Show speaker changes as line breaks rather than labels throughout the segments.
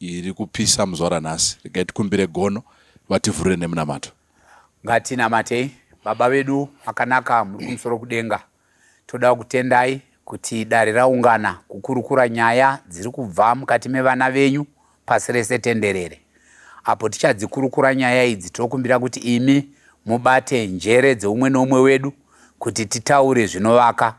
iri kupisa muzvara nhasi regai tikumbire gono vativhurire nemunamato ngatinamatei
baba vedu makanaka muri kumusoro kudenga toda kutendai kuti dare raungana kukurukura nyaya dziri kubva mukati mevana venyu pasi rese tenderere apo tichadzikurukura nyaya idzi tokumbira kuti imi mubate njere dzeumwe neumwe wedu kuti titaure zvinovaka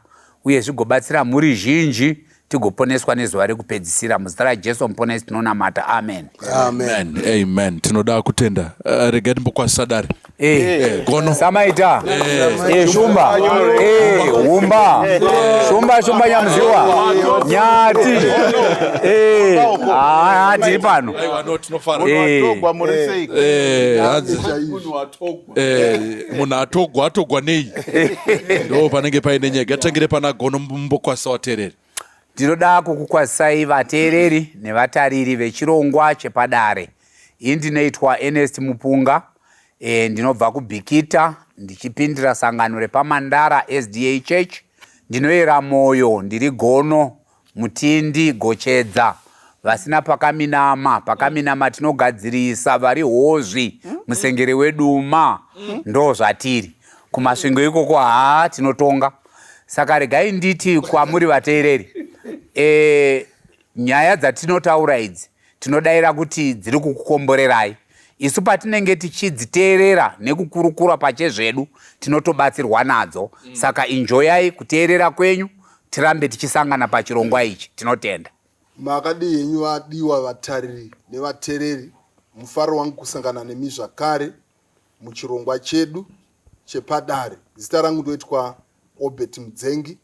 uye zvigobatsira mhuri zhinji tigoponeswa nezuva rekupedzisira muzita rajesu muponesi tinonamata amen amen
amen tinoda kutenda uh, regai timbokwazisa dare eh, eh, gono
samaita eh, shumba humba shumba shumba nyamuziwa nyati ah, tiri pano
Eh, munhu atogwa atogwa nei ndo panenge paine nyaya gatangire pana gono mumbokwasa watereri ndinoda
kukukwazisai vateereri nevatariri vechirongwa chepadare ini ndinoitwa enest mupunga e, ndinobva kubhikita ndichipindira sangano repamandara sda church ndinoyera mwoyo ndiri gono Mutindi Gochedza vasina pakaminama pakaminama tinogadzirisa vari hozvi musengere weduma ndo zvatiri kumasvingo ikoko haa tinotonga saka regai nditi kwamuri vateereri e, nyaya dzatinotaura idzi tinodaira kuti dziri kukukomborerai isu patinenge tichidziteerera nekukurukura pachezvedu tinotobatsirwa nadzo mm. saka injoyai kuteerera kwenyu tirambe tichisangana pachirongwa ichi tinotenda makadii henyu
vadiwa vatariri nevatereri mufaro wangu kusangana nemi zvakare muchirongwa chedu chepadare zita rangu ndoitwa obert mudzengi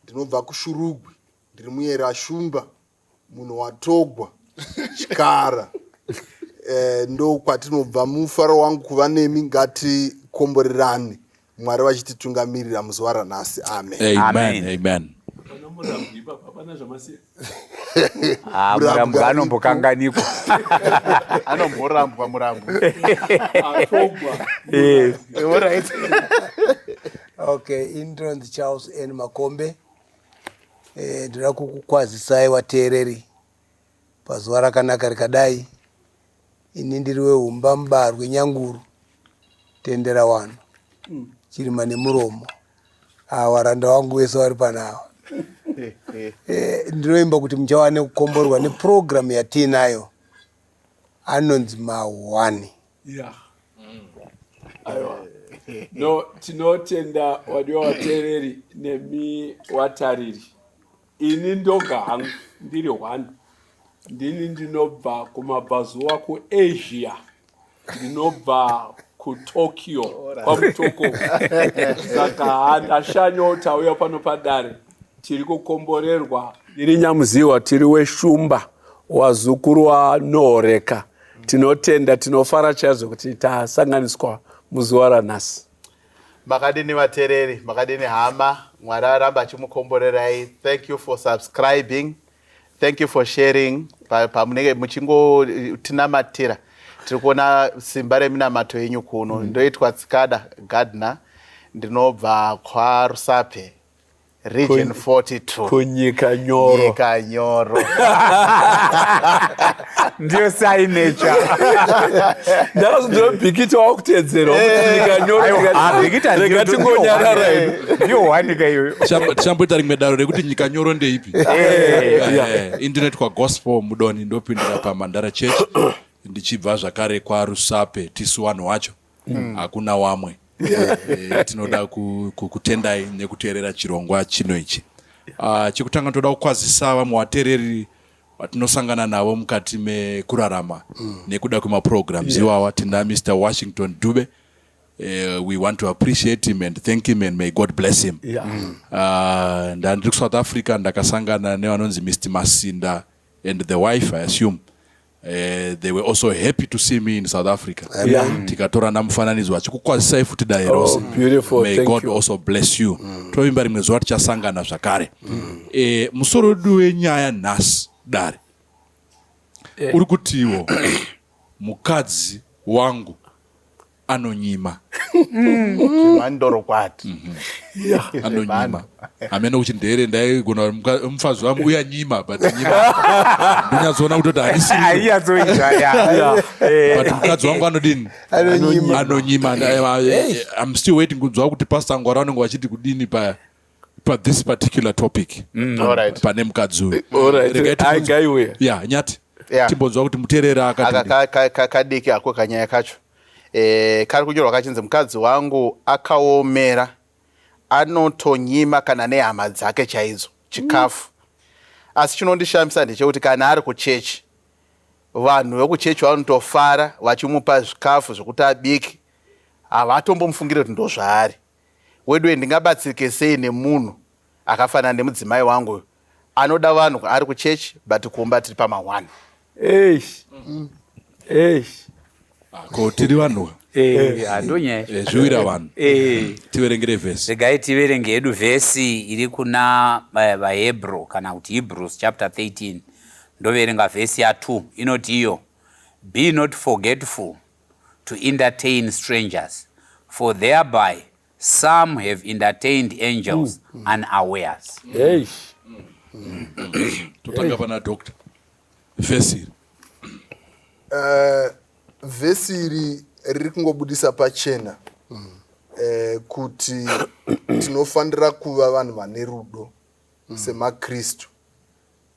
ndinobva kushurugwi ndiri muyera shumba munhu watogwa chikara eh, ndo kwatinobva mufaro wangu kuva nemi ngatikomborerane mwari vachititungamirira muzuva ranhasi amen amen,
amen. amen.
Ah,
murambwi anombokanganikwa
anomborambwa
murambwi eh.
okay intron charles n makombe Eh, ndinoda kukukwazisai wateereri pazuva rakanaka rikadai ini ndiri wehumba mubarwe nyanguru tendera wano hmm. chirima nemuromo awa randa wangu wese wari panawa eh, ndinoimba kuti muchawane kukomborwa neprogramu yatiinayo anonzi mahwani yeah.
mm. aiwa eh. no tinotenda wadiwa watereri nemi watariri ini ndoga hangu ndiri one ndini ndinobva kumabvazuva kuasia ndinobva kutokyo kwamutoko saka handashanyo tauya pano padare tiri kukomborerwa ndiri nyamuziwa tiri weshumba wazukuru wanoreka tinotenda tinofara chaizvo kuti tasanganiswa muzuva ranhasi makadini
vatereri makadini hama mwari aramba achimukomborerai thank you for subscribing thank you for sharing pamunenge muchingotinamatira tiri kuona simba reminamato yenyu kuno mm. ndoitwa tsikada gardner ndinobva kwarusape region 42 kunyika nyoro
nyika nyoro
ndiyo sainecha
ndakazodobhikita wakutedzerwa nyika nyoroega
tingonyarara
hedu ndiyo wanika
iyoyo tichamboita rimwe daro
rekuti nyika nyoro ndeipi internet kwagospel mudoni ndopindira pamandara church ndichibva zvakare kwarusape tisu vanhu wacho mm. hakuna mm. wamwe e, tinoda kutendai ku, nekuteerera chirongwa chino ichi uh, chekutanga toda kukwazisa vamwe vateereri vatinosangana navo mukati mekurarama mm. nekuda kwemaprograms yeah. iwawa tina mr washington dube Uh, we want to appreciate him and thank him and may god bless him yeah. mm. uh, ndandiri kusouth africa ndakasangana nevanonzi mr masinda and the wife i assume Uh, they were also happy to see me in south africa mm. tikatorana mufananidzo vachikukwazisai futi dare oh, rose may god also bless you
mm.
tovimba rimwe zuva tichasangana zvakare mm. eh, musoro wedu wenyaya nhasi dare eh. uri kutiwo mukadzi wangu anonyima zvemandoro
kwati
anonyima hameno kuti ndere ndaigona mufazi wangu uya nyima but nyima ndonyatsoona kutoti harisibut
mukadzi
wangu anodini anonyima im still waiting kunzwa kuti pastor ngwara vanenge vachiti kudini paya pa this particular topic mm. pane mukadzi uyu
eh, ya nyati
timbonzwa kuti muterera akakadiki ako kanyaya
kacho eh, kari kunyorwa kachinzi mukadzi wangu akaomera anotonyima kana nehama dzake chaidzo chikafu mm. asi chinondishamisa ndechekuti kana ari kuchechi vanhu vekuchechi vanotofara vachimupa zvikafu zvekuti abiki havatombomufungire kuti ndozvaari weduwe ndingabatsirike sei nemunhu akafanana nemudzimai wangu uyu anoda vanhu ari kuchechi but kumba tiri pamahwani eish
eish ko tiri vanhu
zviwira vanhu
tiverengere vhesi regai tiverenge hedu
vhesi iri kuna eh, vahebrew kana kuti hebrews chapter 13 ndoverenga vhesi ya2 inoti iyo be not forgetful to entertain strangers for thereby some have entertained angels mm. mm. unawares hey. mm.
totanga pana doctor vhesi iri uh,
vhesi iri riri kungobudisa pachena mm. uh, kuti tinofanira kuva vanhu vane rudo mm. semakristu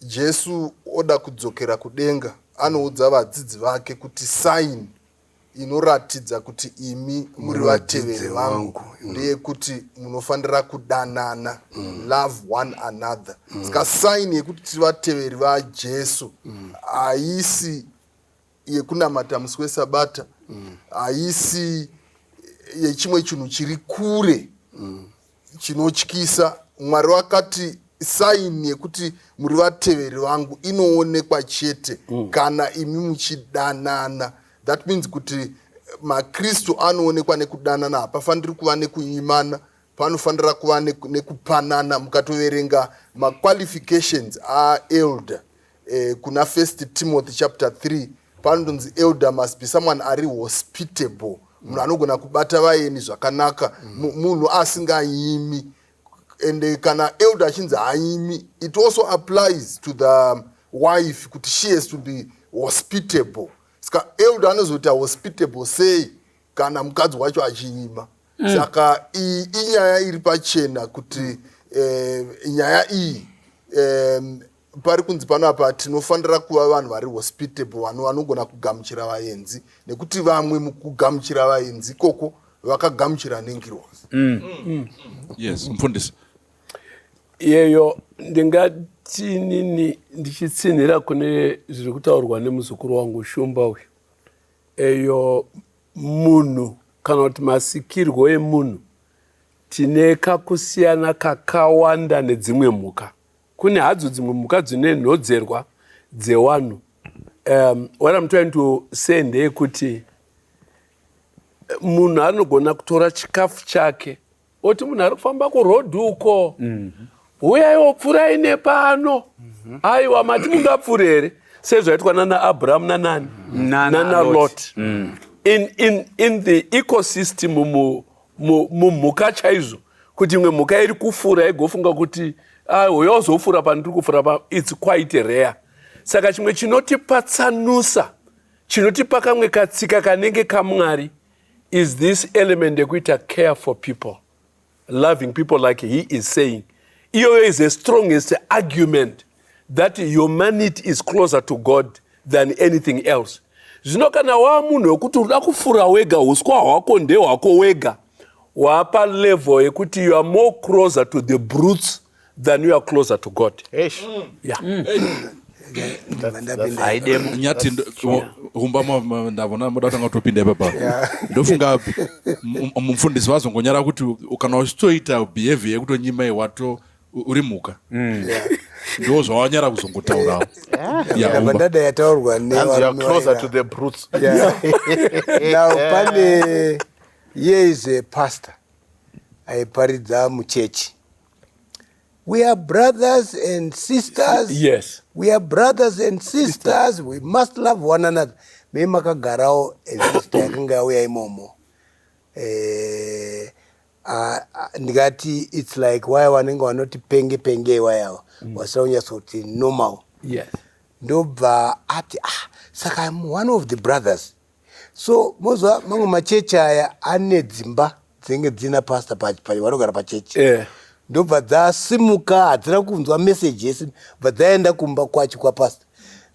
Jesu oda kudzokera kudenga anoudza vadzidzi vake kuti saini inoratidza kuti imi muri vateveri vangu mm. ndeyekuti munofanira kudanana mm. love one another mm. ska saini yekuti tiri vateveri vajesu haisi yekunamata musi wesabata mm. haisi mm. yechimwe chinhu chiri kure mm. chinotyisa mwari wakati saini yekuti muri vateveri vangu inoonekwa chete mm. kana imi muchidanana that means kuti makristu anoonekwa nekudanana hapafaniri kuva nekunyimana panofanira kuva nekupanana mukatoverenga maqualifications aaelder eh, kuna first timothy chapter 3 panonzi elder must be someone ari hospitable munhu anogona kubata vaeni zvakanaka munhu asingayimi and eh, kana elder achinzi haimi it also applies to the wife kuti she has to be hospitable ska elder anozoita hospitable sei kana mukadzi wacho achiima mm. saka iyi inyaya iri pachena kuti eh, nyaya iyi eh, pari kunzi pano apa tinofanira kuva vanhu vari hospitable vanhu vanogona kugamuchira vaenzi nekuti vamwe mukugamuchira vaenzi ikoko vakagamuchira nengirozi mm. mm.
yes mfundisi iyeyo
ndingatinini ndichitsinhira kune zviri kutaurwa nemuzukuru wangu shumba uyu eyo munhu kana kuti masikirwo emunhu tine kakusiyana kakawanda nedzimwe mhuka Kune hadzo dzimwe mhuka dzine nhodzerwa dzewanhu. Um, what I'm trying to say ndeyekuti munhu anogona kutora chikafu chake oti munhu ari kufamba kuroad uko mm -hmm huyai wopfurai nepano aiwa mati mungapfure here sezvaitwa nana abrahamu nanani nana lot mm. in, in, in the ecosystem mu mumhuka chaizvo kuti imwe mhuka iri kufura igofunga kuti ah, uyo ozofura pandiri kufura pa its quite rare saka chimwe chinotipatsanusa chinotipa kamwe katsika kanenge kamwari is this element yekuita care for people loving people like he is saying iyoyo is the strongest argument that humanity is closer to god than anything else zvino kana waa munhu wekuti unoda kufura wega uswa hwako ndehwako wega waapa level yekuti you are more closer to the brutes than you are closer to god yeah.
mm. nyati humba ndavona moda kutanga kutopinda ipapa ndofunga mufundisi vazongonyara kuti kana uchitoita behavior yekutonyimai wato uri mhuka mm. ndo zvawanyara kuzongotaurawo yabadada
yataurwa pane iye is a pastor aiparidza muchechi we are brothers and sisters yes we are
brothers
and sisters we must love one another me makagarawo ezista yakanga yauya imomo eh, Ah, ah, ndikati its like waya vanenge vanoti penge penge iwayawa mm. wasira kunyatsa kuti normal yes.
ndobva
ati ah, saka im one of the brothers so moziva mamwe machechi aya ane dzimba dzinenge dzina pasta vanogara pachechi yeah. ndobva dzasimuka hadzina kunzwa meseji yese bva dzaenda kumba kwacho kwapasta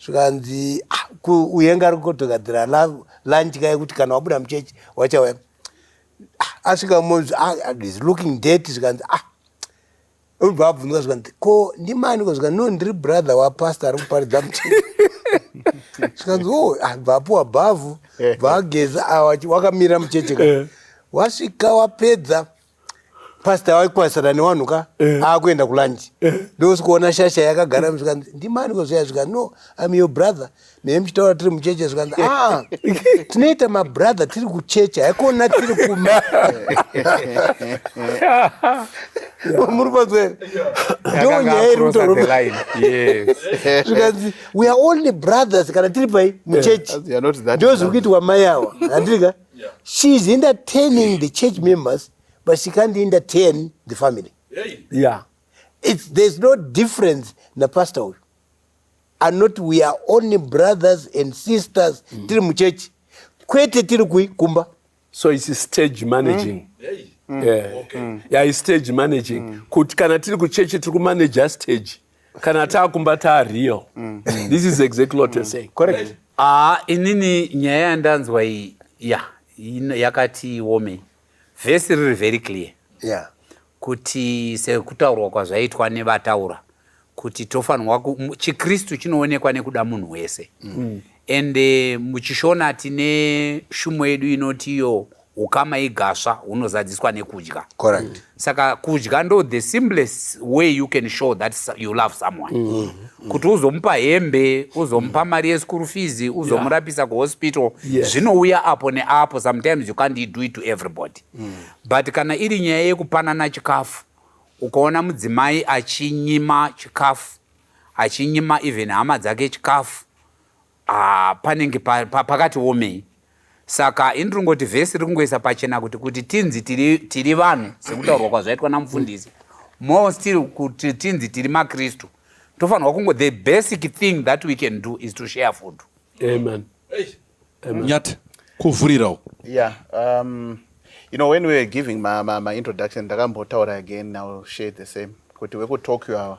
zvikanzi ah, uyenga ari kutogadzira lunch kaye kuti kana wabuda muchechi wachauya ah, asvika monzi ah, ah, is looking dirty zvikanzi ah obva abvunzwa zvikanzi ko ndimani ko zvikanzi no ndiri brother wapastor ari kuparidza muchini zvikanzi o oh, abva apuwa bhavhu eh. bva ageza wakamira mucheche ka eh. wasvika wapedza pasta waikwanisana newanhu ka eh. akuenda kulanji eh. ndosikuona shasha yakagara zvikanzi ndimani kozviya zvika no im your brother nei muchitaura tiri mucheche zvikanzi aa ah, tinoita mabrother tiri kucheche haikona tiri kuma muri panzwere ndo nyaya iri kutorozvikanzi we are only brothers kana tiri pai mucheche ndo zviri kuitwa mai awa handiri ka she is entertaining the church members but she can't entertain the family yeah.
It's, there's
no difference napastor uyu anoti we are only brothers and sisters mm. tiri muchechi kwete tiri kui kumba so its
stage managing mm. Hey. Mm. Yeah. Okay. Mm. Yeah, it's stage managing mm. kuti kana tiri kuchechi tiri kumanaja stage kana taakumba taariyo mm. mm. this is exactly what you're mm. saying correct ah
inini
nyaya yandanzwa iyi ya yakati womei vhesi riri very clear yeah.
kuti
sekutaurwa kwazvaitwa nevataura kuti tofanirwa chikristu chinoonekwa nekuda munhu wese mm. and eh, muchishona tine shumo yedu inoti iyo ukama igasva hunozadziswa nekudya Correct. saka
kudya
ndo the simplest way you can show that you love someone mm -hmm. kuti uzomupa hembe uzomupa mm. mari yeschool fees uzomurapisa yeah. kuhospital yes. zvinouya apo neapo sometimes you can't do it to everybody mm. but kana iri nyaya yekupanana chikafu ukaona mudzimai achinyima chikafu achinyima even hama dzake chikafu Ah, panenge pa, pa, pakati womei saka ini tiri ngoti vhesi riri kungoisa pachena kuti kuti tinzi tiri, tiri vanhu sekutaurwa kwazvaitwa namufundisi more still kuti tinzi tiri makristu tofanirwa kungo the basic thing that we can do is to share food amen,
amen.
nyati kuvhurirawo yeah
um, you know when we were giving my, my, my introduction ndakambotaura again now share the same kuti wekutokyo awa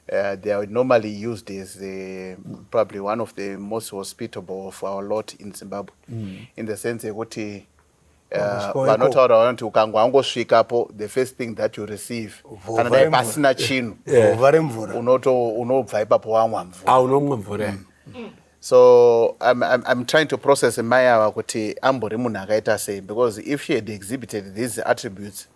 Uh, they are normally used as uh, probably one of the most hospitable of our lot in Zimbabwe mm. in the sense yekuti uh, vanotaura uh, vanoti ukanga wangosvikapo the first thing that you receive kana dai pasina chinhu unobva ipapo wamwa mvura ah, unomwa mvura mm. mm. so I'm, I'm, I'm trying to process mai ava kuti ambori munhu akaita sei because if she had exhibited these attributes mm.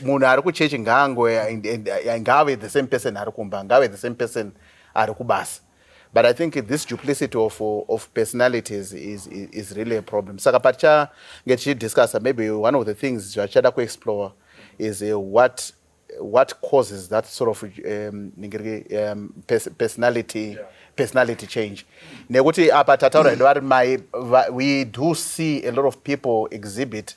munhu ari kuchechi ngaango ngaave the same person ari kumba ngaave the same person ari kubasa but i think this duplicity of, of personalities is, is, is really a problem saka patichange tichidiscussa maybe one of the things zvatichada kuexplore is uh, what what causes that sort of um, um, pers personality yeah. personality change nekuti apa tataura hedu vari mai we do see a lot of people exhibit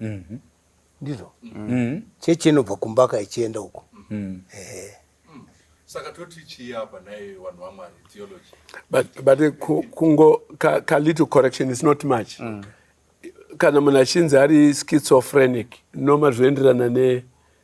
Mhm. ndizvo Mhm. chechi inobva kumbaka ichienda uko Mhm. ehe
saka toti chii apa nhai vanhu vamwari theology but, but eh,
ku- kungo ka, ka little correction is not much kana munhu achinzi ari schizophrenic noma zvoenderana ne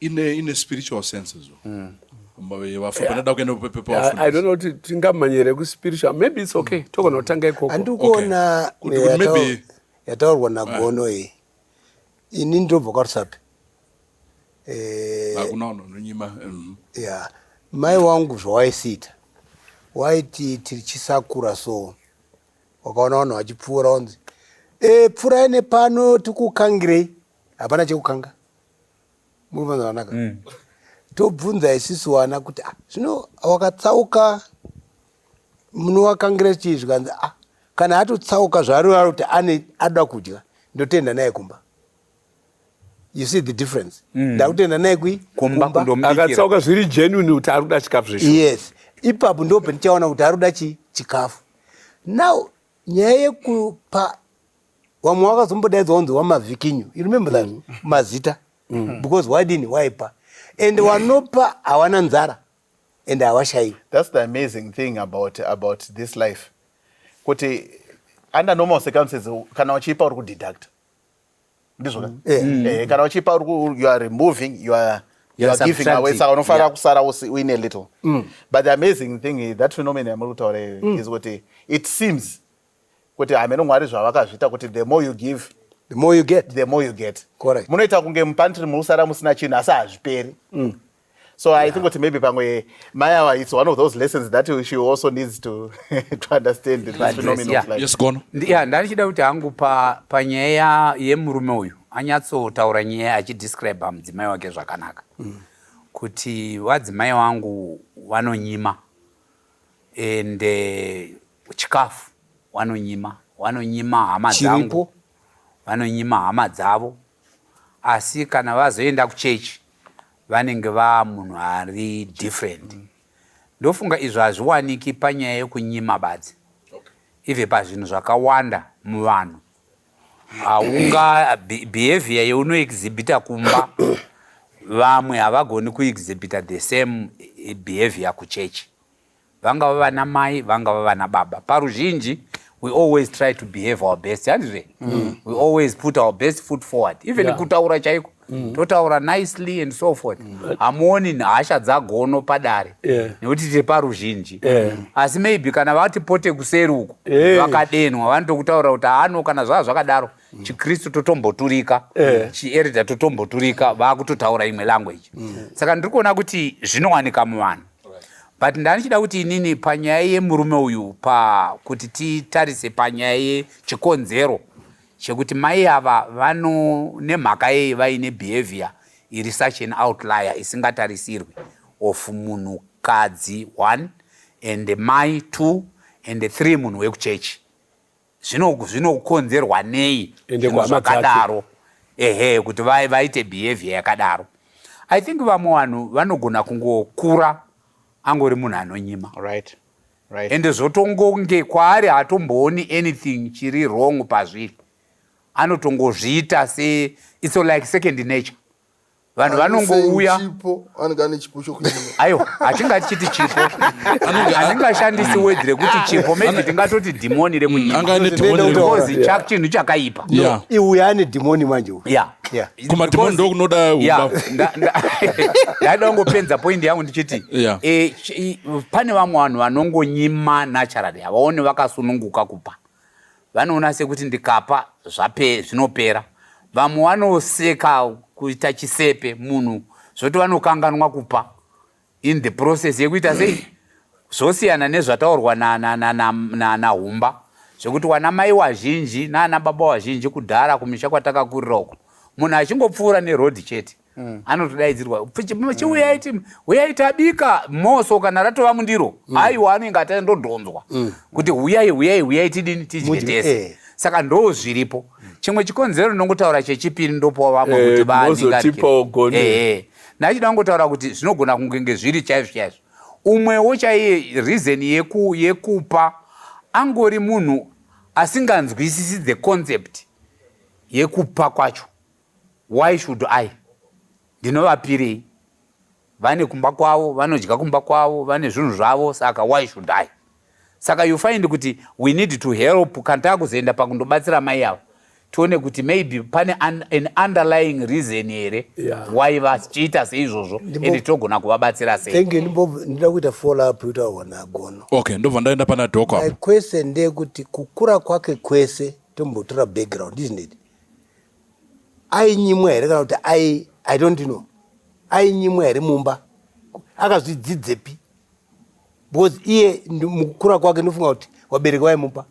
ine ine spiritual senses mm.
vafapanadakuendapepepaati tingamanyere kuspiritual maybe its okay mm. togona kutanga ikoko andikuona
yataurwa
nagono iyi ini ndobva kwarisapi eh, mm. ya mai wangu zvawaisiita waiti tiri chisakura so wakaona vanhu vachipfuura wanzi e, eh, pfurai nepano tikukangirei hapana chekukanga murikunzwa zvakanaka mm. tobvunza isusu wana kuti ah, zvino wakatsauka munowakangira chii zvikanzi ah, kana atotsauka zvaarivaro kuti ane ada kudya ndotenda naye kumba you see the difference mm. ndakutenda naye kui kumbaakatsauka zviri
genuine kuti ari kuda chikafu zveshu yes ipapo
ndo pandichaona kuti ari kuda chi chikafu now nyaya yekupa vamwe wakazombodaidzwa kunzi wamavikinyu you remember that mm. mazita mm. because wadini waipa and wanopa hawana nzara and hawashayi that's the amazing
thing about, about this life kuti under normal circumstances kana wachiipa uri kudeducta ndizvona mm. yeah. mm. eh, kana wachiipa you are removing you are You are giving away saka unofanira kusara uine little mm. but the amazing thing that phenomenon yamuri kutaura mm. is kuti it seems kuti hameno mwari zvavakazviita kuti the more you give the more you get
the more you get
correct munoita kunge
mupantry
munosara musina chinhu asi hazviperi mm. so yeah. i think kuti maybe pamwe mayawa it's one of those lessons that she also needs to, to understand this phenomenon yeah. like. yes, gono yeah, ndarichida
kuti
hangu panyaya pa yemurume uyu anyatsotaura nyaya achidescribe mudzimai wake zvakanaka mm. kuti vadzimai wangu vanonyima and uh, chikafu wanonyima wanonyima hama dzangu vanonyima hama dzavo asi kana vazoenda kuchechi vanenge vaa munhu ari different mm. ndofunga izvo hazviwaniki panyaya yekunyima badzi okay. ive pazvinhu zvakawanda muvanhu haunga behavior yeunoexhibita kumba vamwe havagoni kuexhibita the same behavior kuchechi vangava vana mai vangava vana baba paruzhinji we always try to behave our best handizve mm. we always put our best foot forward even yeah. kutaura chaiko mm. totaura nicely and so forth mm. hamuoni mm. hasha dzagono padare yeah. nekuti tiri paruzhinji yeah. asi maybe kana vati pote kuseri uku yeah. vakadenwa vanotokutaura kuti hano kana zvava zvakadaro mm. chikristu totomboturika yeah. chierida totomboturika vakutotaura imwe language mm. saka ndiri kuona kuti zvinowanika muvanhu but ndandichida kuti inini panyaya yemurume uyu pakuti titarise panyaya yechikonzero chekuti mai ava vano nemhaka yei vaine behavior iri such an outlier isingatarisirwi of munhukadzi one and mai two and three munhu wekuchechi zvinokonzerwa nei zvakadaro ehe kuti vaite behavior yakadaro i think vamwe vanhu vanogona kungokura angori munhu anonyima right
right ende
zvotongonge kwaari hatombooni anything chiri wrong pazviri anotongozviita se it's like second nature vanhu vanongouya aiwa hatingati chiti chipo hatingashandisi wedzi rekuti chipo maybe tingatoti dhimoni remunyimaozi chinhu chakaipa iuye ane
dhimoni manje kumadhimoni
ndokunoda ndaida
kungopenza poindi yangu ndichiti eh, pane vamwe vanhu vanongonyima nacharali havaone vakasununguka kupa Vanoona sekuti ndikapa zvape zvinopera. Vamwe vanoseka kuita chisepe munhu zvoti vanokanganwa kupa in the process yekuita sei zvosiyana nezvataurwa nahumba zvekuti wana mai wazhinji naana baba wazhinji kudhara kumisha kwatakakurira uko munhu achingopfuura neroad chete mm. anotodaidzirwa chiuyai mm. huyai tabika moso kana ratova mundiro mm. aiwa anenge ata ndodhonzwa mm. kuti huyai huyai huyai tidini tidye tese eh. saka ndoo zviripo mm. chimwe chikonzero ndinongotaura chechipiri ndopowa vamwe eh, kuti vaaningatipaogoni eh, nachida kungotaura kuti zvinogona kungenge zviri chaizvo chaizvo umwewo chaiye reason yeku, yekupa angori munhu asinganzwisisi the concept yekupa kwacho Why should I? Ndinovapirei? Vane kumba kwavo, vanodya kumba kwavo, vane zvinhu zvavo, saka why should I? Saka you find kuti we need to help kana takuzoenda pakundobatsira mai avo tione kuti maybe pane an, an underlying reason here yeah. why vachiita seizvozvo and togona kuvabatsira seindinoda kuita
follow up utaona gono okay ndobva ndaenda pana
doko kwese ndeyekuti
kukura kwake kwese tombotora background isn't it ainyimwa here kana kuti ai i don't know ainyimwa here mumba akazvidzidzepi because iye mukukura kwake ndofunga kuti wabereki waimupa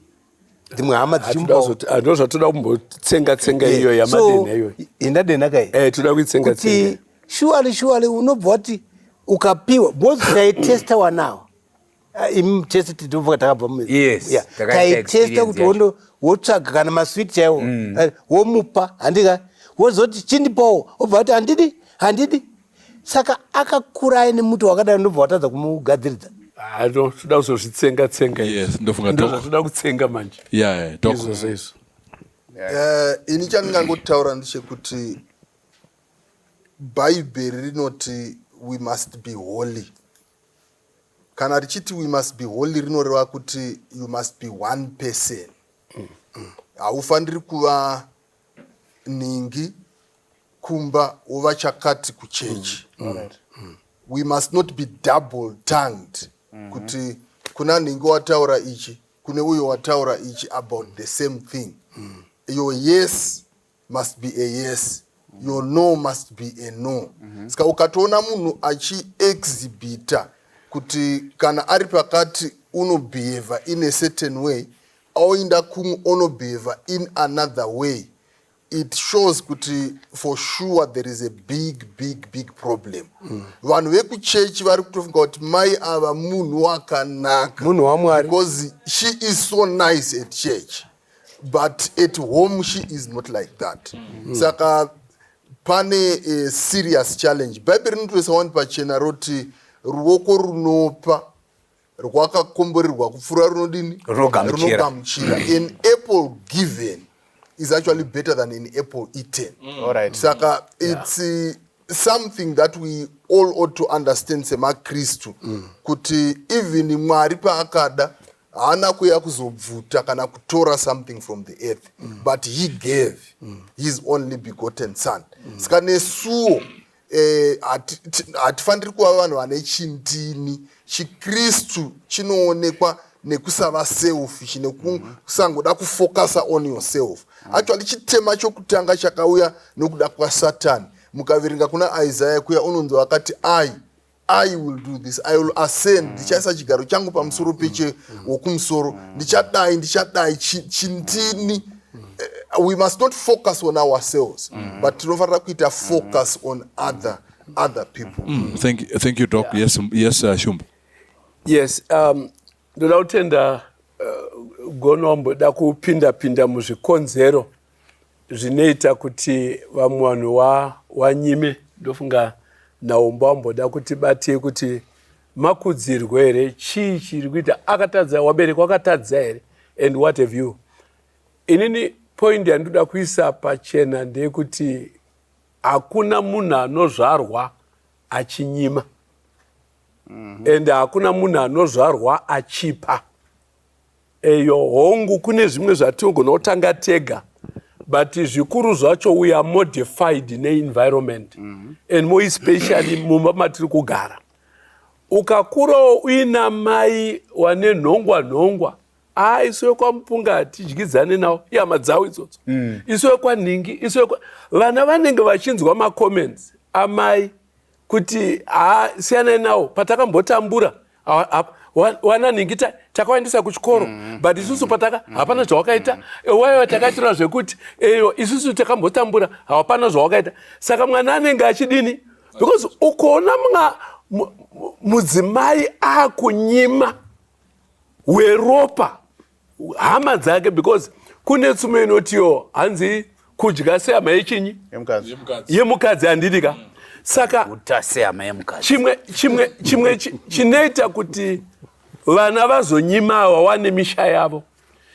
dzimwe hama dzichimupaando zvatoda
kumbotsenga tsenga eh, iyo yamadenha iyoyo enda denha kai eh,
toda kuitsenga tsenga
shuwali
shuwali unobva wati ukapiwa because taitesta wanawo Ah, imi chese titovuka takabva muyestakaitesta
kuti
wondo wotsvaga kana maswiti chaiwo mm. eh, womupa handika wozoti chindipowo obva kuti handidi handidi saka akakura aine muti wakadai ndobva watadza kumugadziridza ah, toda
kuzozvitsenga tsenga
ndotoda kutsenga
manje izvozvo
izvo
eh,
ini chandingangotaura ndechekuti bhaibheri rinoti we must be holy kana richiti we must be holy rinoreva kuti you must be one person haufaniri mm. mm. kuva ningi kumba wova chakati kuchechi mm. mm. right. mm. we must not be double tongued mm -hmm. kuti kuna ningi wataura ichi kune uyo wataura ichi about the same thing mm. your yes must be a yes your no must be a no mm-hmm. ska ukatoona munhu achiexhibita kuti kana ari pakati unobehava in a certain way aoinda kumwe onobehava in another way it shows kuti for sure there is a big big big problem mm. vanhu mm. vekuchechi vari kutofunga kuti mai ava munhu wakanaka munhu wamwari
because she
is so nice at church but at home she is not like that mm. saka pane uh, serious challenge bhaibheri rinotoisa wani pachena roti ruoko runopa rwakakomborerwa kupfuura runodini runogamuchira
an
apple given is actually better than an apple eaten mm. All right. saka
yeah. it's
uh, something that we all ought to understand semakristu mm. kuti even mwari paakada haana kuya kuzobvuta kana kutora something from the earth mm. but he gave mm. his only begotten son mm. saka nesuwo eh, hatifaniri eh, kuva vanhu vane chindini chikristu chinoonekwa nekusava selfish nekusangoda mm-hmm. kufokasa on yourself mm. actually chitema chokutanga chakauya nokuda kwasatani mukaverenga kuna isaya kuya unonzi wakati ai I will do this. I will ascend. Mm. Ndichaisa mm. chigaro changu pamusoro mm. peche mm. wokumusoro. Mm. Ndichadai, ndichadai, chintini. Chi, Eh, we must not focus on ourselves mm. but tinofanira kuita focus on other other people mm. thank, you, thank you doc
yeah. yes, yes uh, shumba yes
um, Ndoda kutenda uh, eh, gono wamboda kupinda pinda muzvikonzero zvinoita kuti vamwe vanhu wanyime wa ndofunga naumba wamboda kuti batei kuti makudzirwe here chii chiri kuita akatadza wabereki wakatadza here and what have you inini poindi yandinoda kuisa pachena ndeyekuti hakuna munhu anozvarwa achinyima mm -hmm. and hakuna munhu anozvarwa achipa eyo hongu kune zvimwe zvatinogona kutanga tega but zvikuru zvacho we are modified neenvironment mm -hmm. and more especially mumba matiri kugara ukakurawo uina mai wane nhongwa nhongwa haa isu vekwamupunga hatidyidzane nawo ihama dzawo idzodzo mm. isu vekwanhingi isu vana vanenge vachinzwa macomments amai kuti haa siyanai nawo patakambotambura wana nhingi takawaendesa kuchikoro mm. but isusu pataka mm. hapana zvawakaita mm. waiwa takaitirwa zvekuti eyo isusu takambotambura hapana zvawakaita saka mwana anenge achidini because ukaona mwa mudzimai akunyima weropa hama dzake because kune tsumo inotiwo hanzi kudya sehama yechinyi yemukadzi handidi ka saka chimwe chimwe chimwe chinoita kuti vana vazonyima vawane misha yavo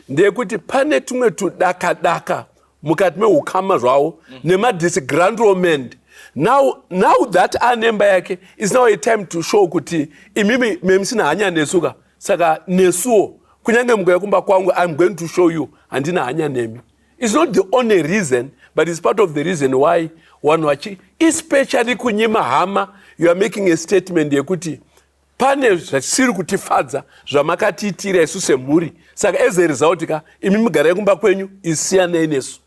ndeyekuti pane tumwe tudakadaka mukati meukama zvavo mm. nemadisgrandlement now now that anemba yake is now a time to show kuti imimi memusina hanya nesuka saka nesuwo kunyange mukauya kumba kwangu iam going to show you handina hanya nemi its not the only reason but its part of the reason why vanhu vachi especially kunyima hama you are making a statement yekuti pane zvisiri kutifadza zvamakatiitira isu semhuri saka as a result ka imi mugarai kumba kwenyu isiyanei nesu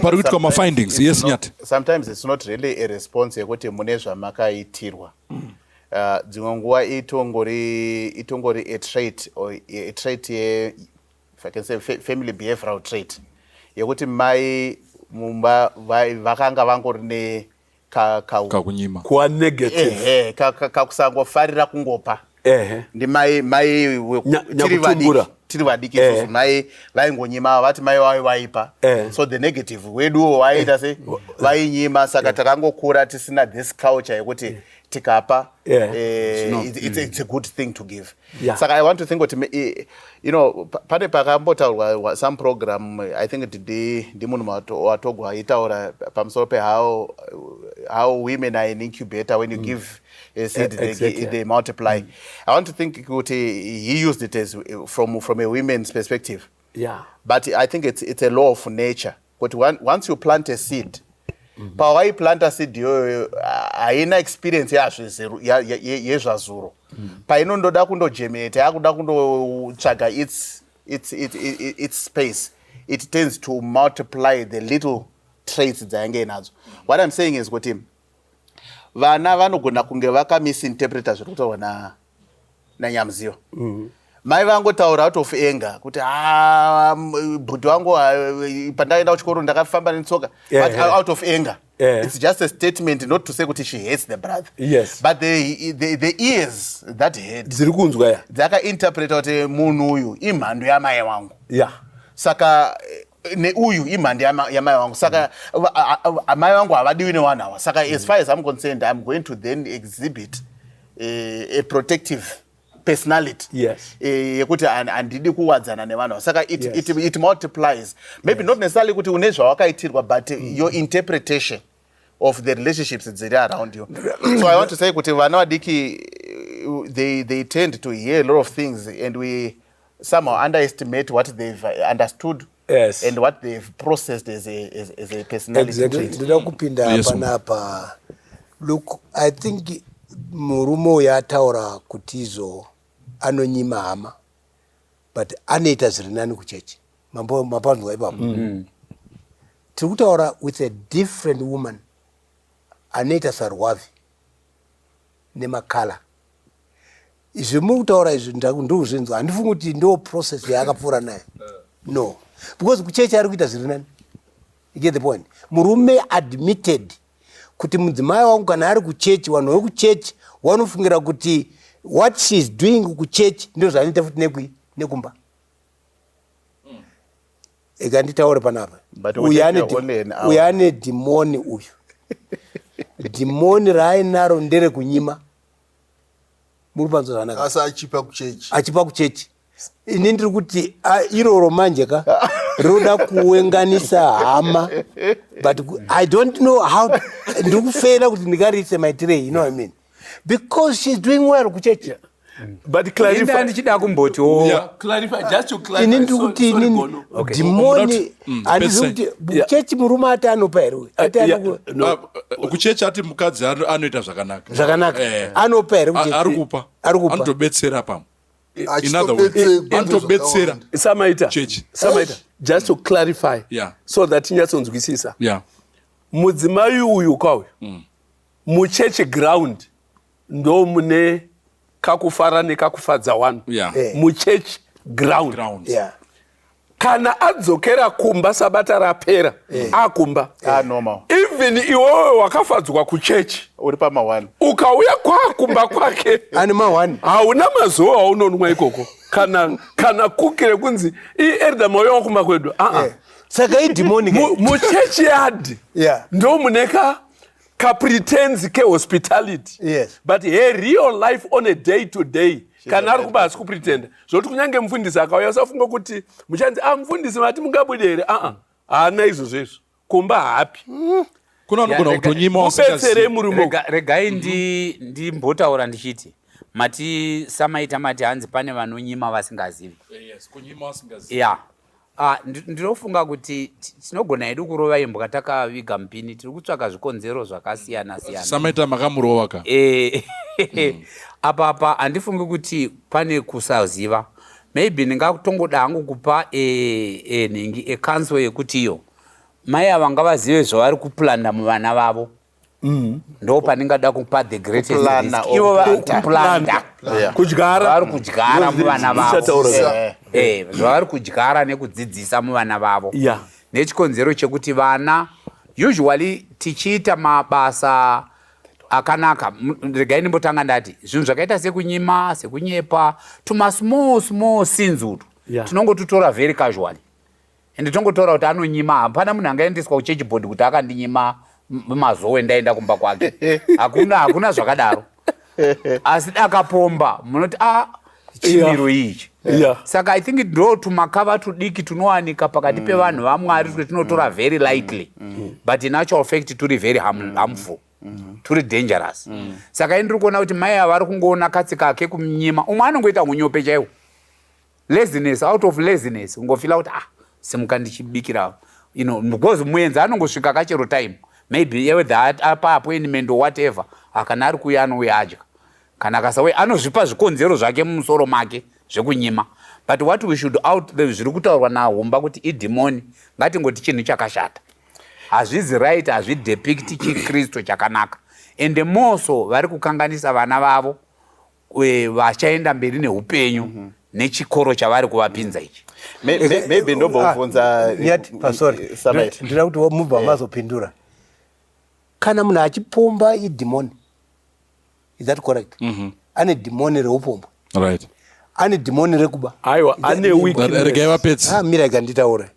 pari kuitwa
mafindings yes nyati sometimes its not
really a response yekuti mune zvamakaitirwa mm. uh, dzimwe nguva itongori itongori a trait or a trait ye if i can say family behavioral trait yekuti mai mumba vakanga vangori ne kakunyima ka, ka
kunyima kuwa
negative kakusangofarira
ka, ka, kungopa ehe ndimai mai wekutiri vadiki tiri vadiki eh. isusu mai vaingonyima vati mai vavo vaipa eh. so the negative weduwo waiita eh. se vainyima saka takangokura tisina this culture yekuti tikapa it's a good thing to give saka i want to think kuti you know pane pakambotaurwa some program i think ndimunhu watogwa aitaura pamusoro pehow how women are an incubator when you mm. give Is it, exactly. they, they multiply. Mm. I want to think kuti he used it as from, from a women's perspective. Yeah. But I think it's, it's a law of nature. But one, once you plant a seed, mm -hmm. pawaiplanta seed iyoyo haina experience yazvezero yezvazuro mm. painondoda kundogemeta yakuda kundotsvaga its, its, its, its, its space it tends to multiply the little traits dzayange inadzo what i'm saying is kuti vana vanogona kunge vakamisinterpreta zviri kutaurwa na nanyamuziva mm. mai vangotaura out of anger kuti ah, bhuti wangu ah, pandakaenda kuchikoro ndakafamba netsoka yeah, but yeah. out of anger yeah. it's just a statement not to say kuti she hates the brother yes. but the,
the,
the ears that head dziri kunzwa ya
dzakainterpreta kuti
munhu uyu imhando yamai wangu yeah. saka eh, neuyu imhandi yamai wangu saka amai vangu havadiwi newanhu awa saka as mm. far as im concerned im going to then exhibit eh, a protective personality yes. e,
yekuti handidi
kuwadzana nevanhu saka it, yes. it, it multiplies maybe yes. not necessarily kuti une zvawakaitirwa but mm. your interpretation of the relationships dziri around you so i want to say kuti vana vadiki they, they tend to hear a lot of things and we somehow underestimate what they've understood yes. and what
they've
processed as a, as, as a personality exactly. ndida kupinda yes,
panapa look i think murume uyo ataura kuti izo anonyima hama but anoita zviri nani kuchechi mambo mapanzwa ipapo mm. mm. tiri kutaura with a different woman anoita sarwavi nemakala izvi muri kutaura izvi ndokuzvinzwa handifungi kuti ndo process yaakapfuura nayo no because kuchechi ari kuita zviri nani get the point murume admitted kuti mudzimai wangu kana ari kuchechi vanhu vekuchechi wanofungira kuti what she is doing kuchechi ndo zvanoita futi nekui nekumba eka nditaure panapa uyu ane dhimoni uyu dhimoni raainaro ndere kunyima muri panzwa zvanaka
achipa kuchechi
ini ndiri kuti ah, iroro manje ka rinoda kuenganisa hama but i don't know how ndiri kufeera kuti ndingariise maitirei you know i mean because she's doing well kuchechi yeah. but
clarify ndichida kumboti wo
yeah, clarify just
to clarify ini ndiri kuti ini okay.
dimoni mm, andizi kuti kuchechi murume ati anopa here uyu ati uh, anoku yeah, no.
uh, kuchechi ati mukadzi anoita zvakanaka zvakanaka
eh. anopa here kuchechi ari kupa ari kupa
anotobetsera pamwe in other words anotobetsera samaita church
samaita just to clarify yeah. so that tinyatsonzwisisa yeah. mudzimai uyu kwauyu mm. muchechi ground ndo mune kakufara nekakufadza wanu yeah. yeah. muchechi ground, ground. Yeah. kana adzokera kumba sabata rapera eh. akumba ah,
even iwewe
wakafadzwa kuchechi uri pamawani
ukauya kwakumba
kwake ani mawani
hauna mazuva
aunonwa ikoko kana kana kuki rekunzi ierda mauya wakumba kwedu aa ah, ah. eh. saka
idhimoni muchechi
yadhi ndo muneka kapretenzi kehospitality yes. but he
real
life on a day to day kana ari kuba hasi kupretenda zvokuti kunyange mufundisi akauya usafunga kuti muchanzi a ah, mufundisi mati mungabude here aa ah, ah, haana izvozvo izvo kumba hapi mm. kuno anogona
kutonyima ubetsere murume
regai
ndimbotaura ndichiti mati samaita mati hanzi pane vanonyima vasingazivi
ya Ah,
ndinofunga kuti tinogona hedu kurova imbwa takaviga mupini tiri kutsvaka zvikonzero zvakasiyana siyana samaita makamurova
ka eh, hmm. apa
apa handifungi kuti pane kusaziva maybe ndingatongoda hangu kupa eh, eh, nhingi ekanso yekuti iyo mai ava ngavazive zvavari kuplanda muvana vavo Mm. ndo pandingada kupa the greatestplanda kudyaravari kudyara
muvana
vavozvavari eh, eh, kudyara nekudzidzisa muvana vavo nechikonzero chekuti vana usually tichiita mabasa akanaka regai ndimbotanga ndati zvinhu zvakaita sekunyima sekunyepa tumasmall small sins utu tinongotutora very casually ende tongotaura kuti anonyima hapana munhu angaendeswa kuchechi bhodhi kuti akandinyima mazowe ndaenda kumba kwake hakuna hakuna zvakadaro asi dakapomba munoti a ah, chimiro ichi saka i think ndo tumakava tudiki tunowanika pakati mm. pevanhu vamwari kuti tinotora mm. very lightly mm. but in actual fact turi very harmful turi dangerous saka ini ndiri kuona kuti mai avari kungoona katsi kake kumnyima umwe anongoita unyope chaiwo laziness out of laziness ungofila kuti ah simuka ndichibikira you know because muenzi anongosvika kachero time maybe yewethe apa appointment or whatever akana ari kuuya anouya adya kana akasauya anozvipa zvikonzero zvake mumusoro make zvekunyima but what we should out the zviri kutaurwa nahumba kuti idhimoni ngatingoti chinhu chakashata hazvizi right hazvidepikti chikristu chakanaka and moso vari kukanganisa vana vavo vachaenda mberi neupenyu mm -hmm nechikoro chavari kuvapinza ichi maybe
ndombovunza ah, eh,
eh, ndinoda kuti mubva eh. mazopindura kana munhu achipomba idhimoni is that correct mhm. ane dhimoni reupombwe right
ane dhimoni
rekuba aiwa ane
weaknessregai vapedzi ah,
mira ikanditaura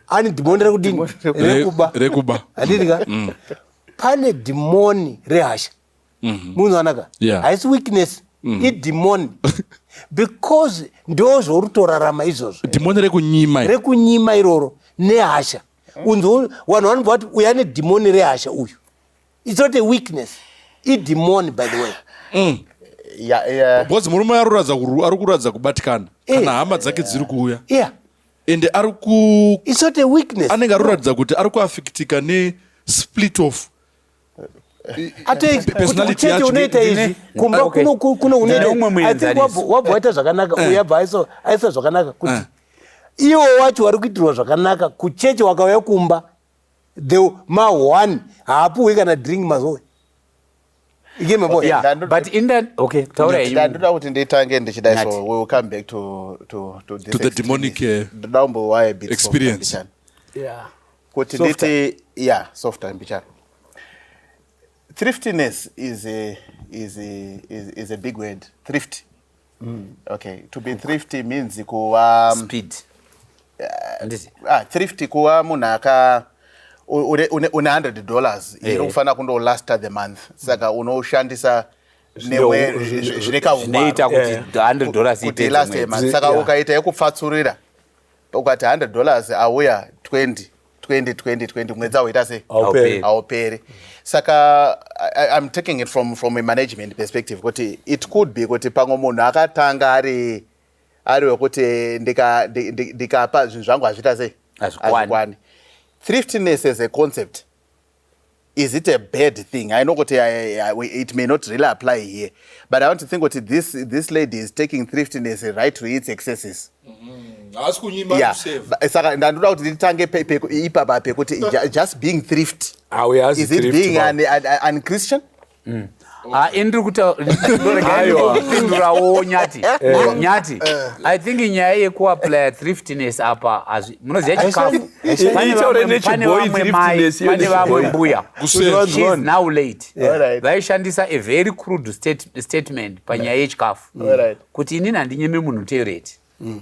ane dhimoni rekudini rekuba rekuba
handidika mm.
pane dhimoni rehasha mm-hmm. munoona ka yeah. haisi weakness mm-hmm. idhimoni because ndo zvorutorarama izvozvo dhimoni rekunyima
rekunyima
iroro nehasha unzo vanhu vanobva vati uya nedhimoni rehasha uyu its not a weakness idhimoni by the way mm.
because murume ari kuratidza kubatikana eh. kana hama dzake dziri kuuya yeah ende ari
kuanenge ari kuratidza kuti ari
kuafikitika nesplit of
ateiuchete unoita izvi kumba ah, kuno unoitawabva waita zvakanaka eh. uyabva aisa zvakanaka kuti eh. iwo wacho wari kuitirwa zvakanaka kucheche wakauya kumba the ma one haapuhwi kana drink mazoe
ndandoda kuti nditange ndichidai so we will come back to, to, to, to the demonic
uh, experience yeah.
kuti nditi ya softer mbicharo thriftiness is a, is a, is, is a big word thrift mm. okay to be thrifty means kuva speed
uh, ah,
thrifty kuva munhu aka une 100 dollars iri eh. kufanira kundolaster the month saka unoshandisa zvine kaungwaroita kuti 100 eh.
dollars ite
saka ukaita yekupfatsurira ukati 100 dollars auya 20 20 20 20 mwedzi auita sei auperi saka i'm taking it from, from a management perspective kuti it could be kuti pamwe munhu akatanga ari ari wekuti ndikapa zvinhu zvangu hazviita sei hazvikwani thriftiness as a concept is it a bad thing i know kuti it may not really apply here but i want to think kuti this, this lady is taking thriftiness right to its excesses mm-hmm. saka ndandoda kuti nditange ipapa pekuti just being thrift is it being an, an, an christian Mm. Ah, ini
ndiri kutaurapindurawo nyati eh. Eh. nyati eh. i think nyaya yekuaplya thriftiness apa munoziva chikafu pane vamwe mai pane vamwe mbuya now late vaishandisa a very crude statement panyaya yechikafu kuti inini handinyeme munhu teureti mm.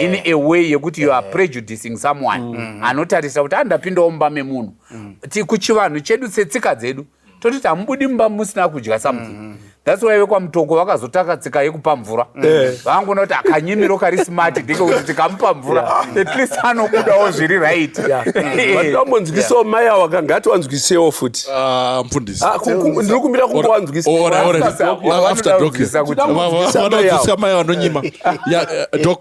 in a way yekuti you are prejudicing someone mm. mm-hmm. anotarisa kuti andapindawo mumba memunhu mm. kuchivanhu chedu setsika dzedu totiti hamubudi mumba musina kudya something mm. thats why vekwamutoko vakazotaka tsika yekupa mvura mm. eh. vangoona kuti akanyimiro kari smart ndike kuti tikamupa mvura at least anokudawo zviri right vanombonzwisawo
mai awo akangati wanzwisewo futi ah, Ah, ku-
ku- ndiri kumbira
kungowanzwisa Ora, ora, ora. Sasa, After wanoda doc. kunzwisisa
kuti- Vanoda kunzwisisa Vanoda mai kunzwisisa mai vanonyima Ya, eh, doc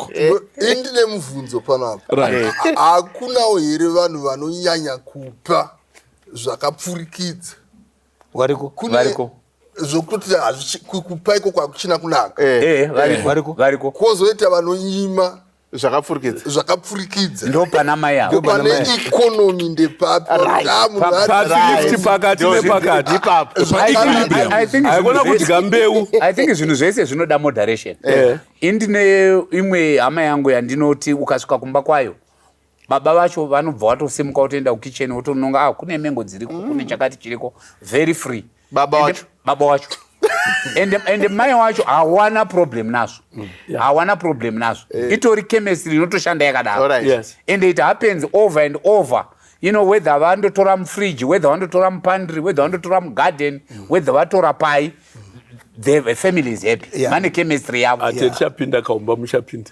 indine
mubvunzo pano apa right hakunawo here vanhu vanonyanya kupa zvakapfurikidza
variko Kune- variko
zvokuti hazvichi- ku- kupa iko kwakuchina kunaka Eh, variko variko
kwozoita
vanonyima zvakapfurikidza zvakapfurikidza
ndopana mai avo pane
economy
ndepapi
pakati nepakati ipapoaikona kudya mbeu i think zvinhu zvese
zvinoda moderation eh. indine imwe hama yangu yandinoti ukasvika kumba kwayo baba vacho vanobva watosimuka wotoenda kukicheni wotononga ah kune mengo dziriko mm. kune chakati chiriko very free baba wacho baba wacho and, and mai wacho hawana problem nazvo mm. yeah. hawana problem nazvo yeah. itori chemistry inotoshanda yakadaro right. yes. and it happens over and over you know whether vandotora mufridge whether vandotora mupandry whether vandotora mugarden mm. whether vatora pai mm. the family is happy yeah. mane chemistry yavo yeah. yeah. chapinda kaumba
muchapinda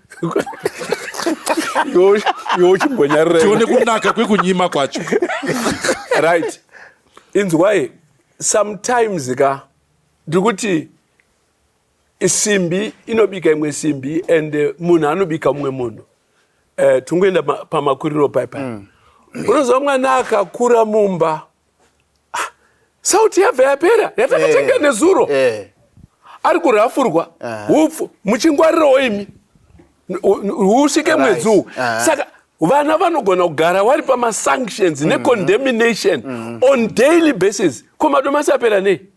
yochimbonyaruratione kunaka
kwekunyima kwacho right
inzwai sometimes ka ndiri kuti simbi inobika imwe simbi and eh, munhu anobika mumwe munhu uh, eh, tingoenda pamakuriro paipai mm. unoziva mwana akakura mumba sauti yabva yapera yatakatenga eh, nezuro eh. ari kurafurwa upfu muchingwarirawo imi usvike mwedzi uwu saka vana vanogona kugara wari pamasanctions mm-hmm. necondemnation mm-hmm. on daily basis ko madomasi apera nei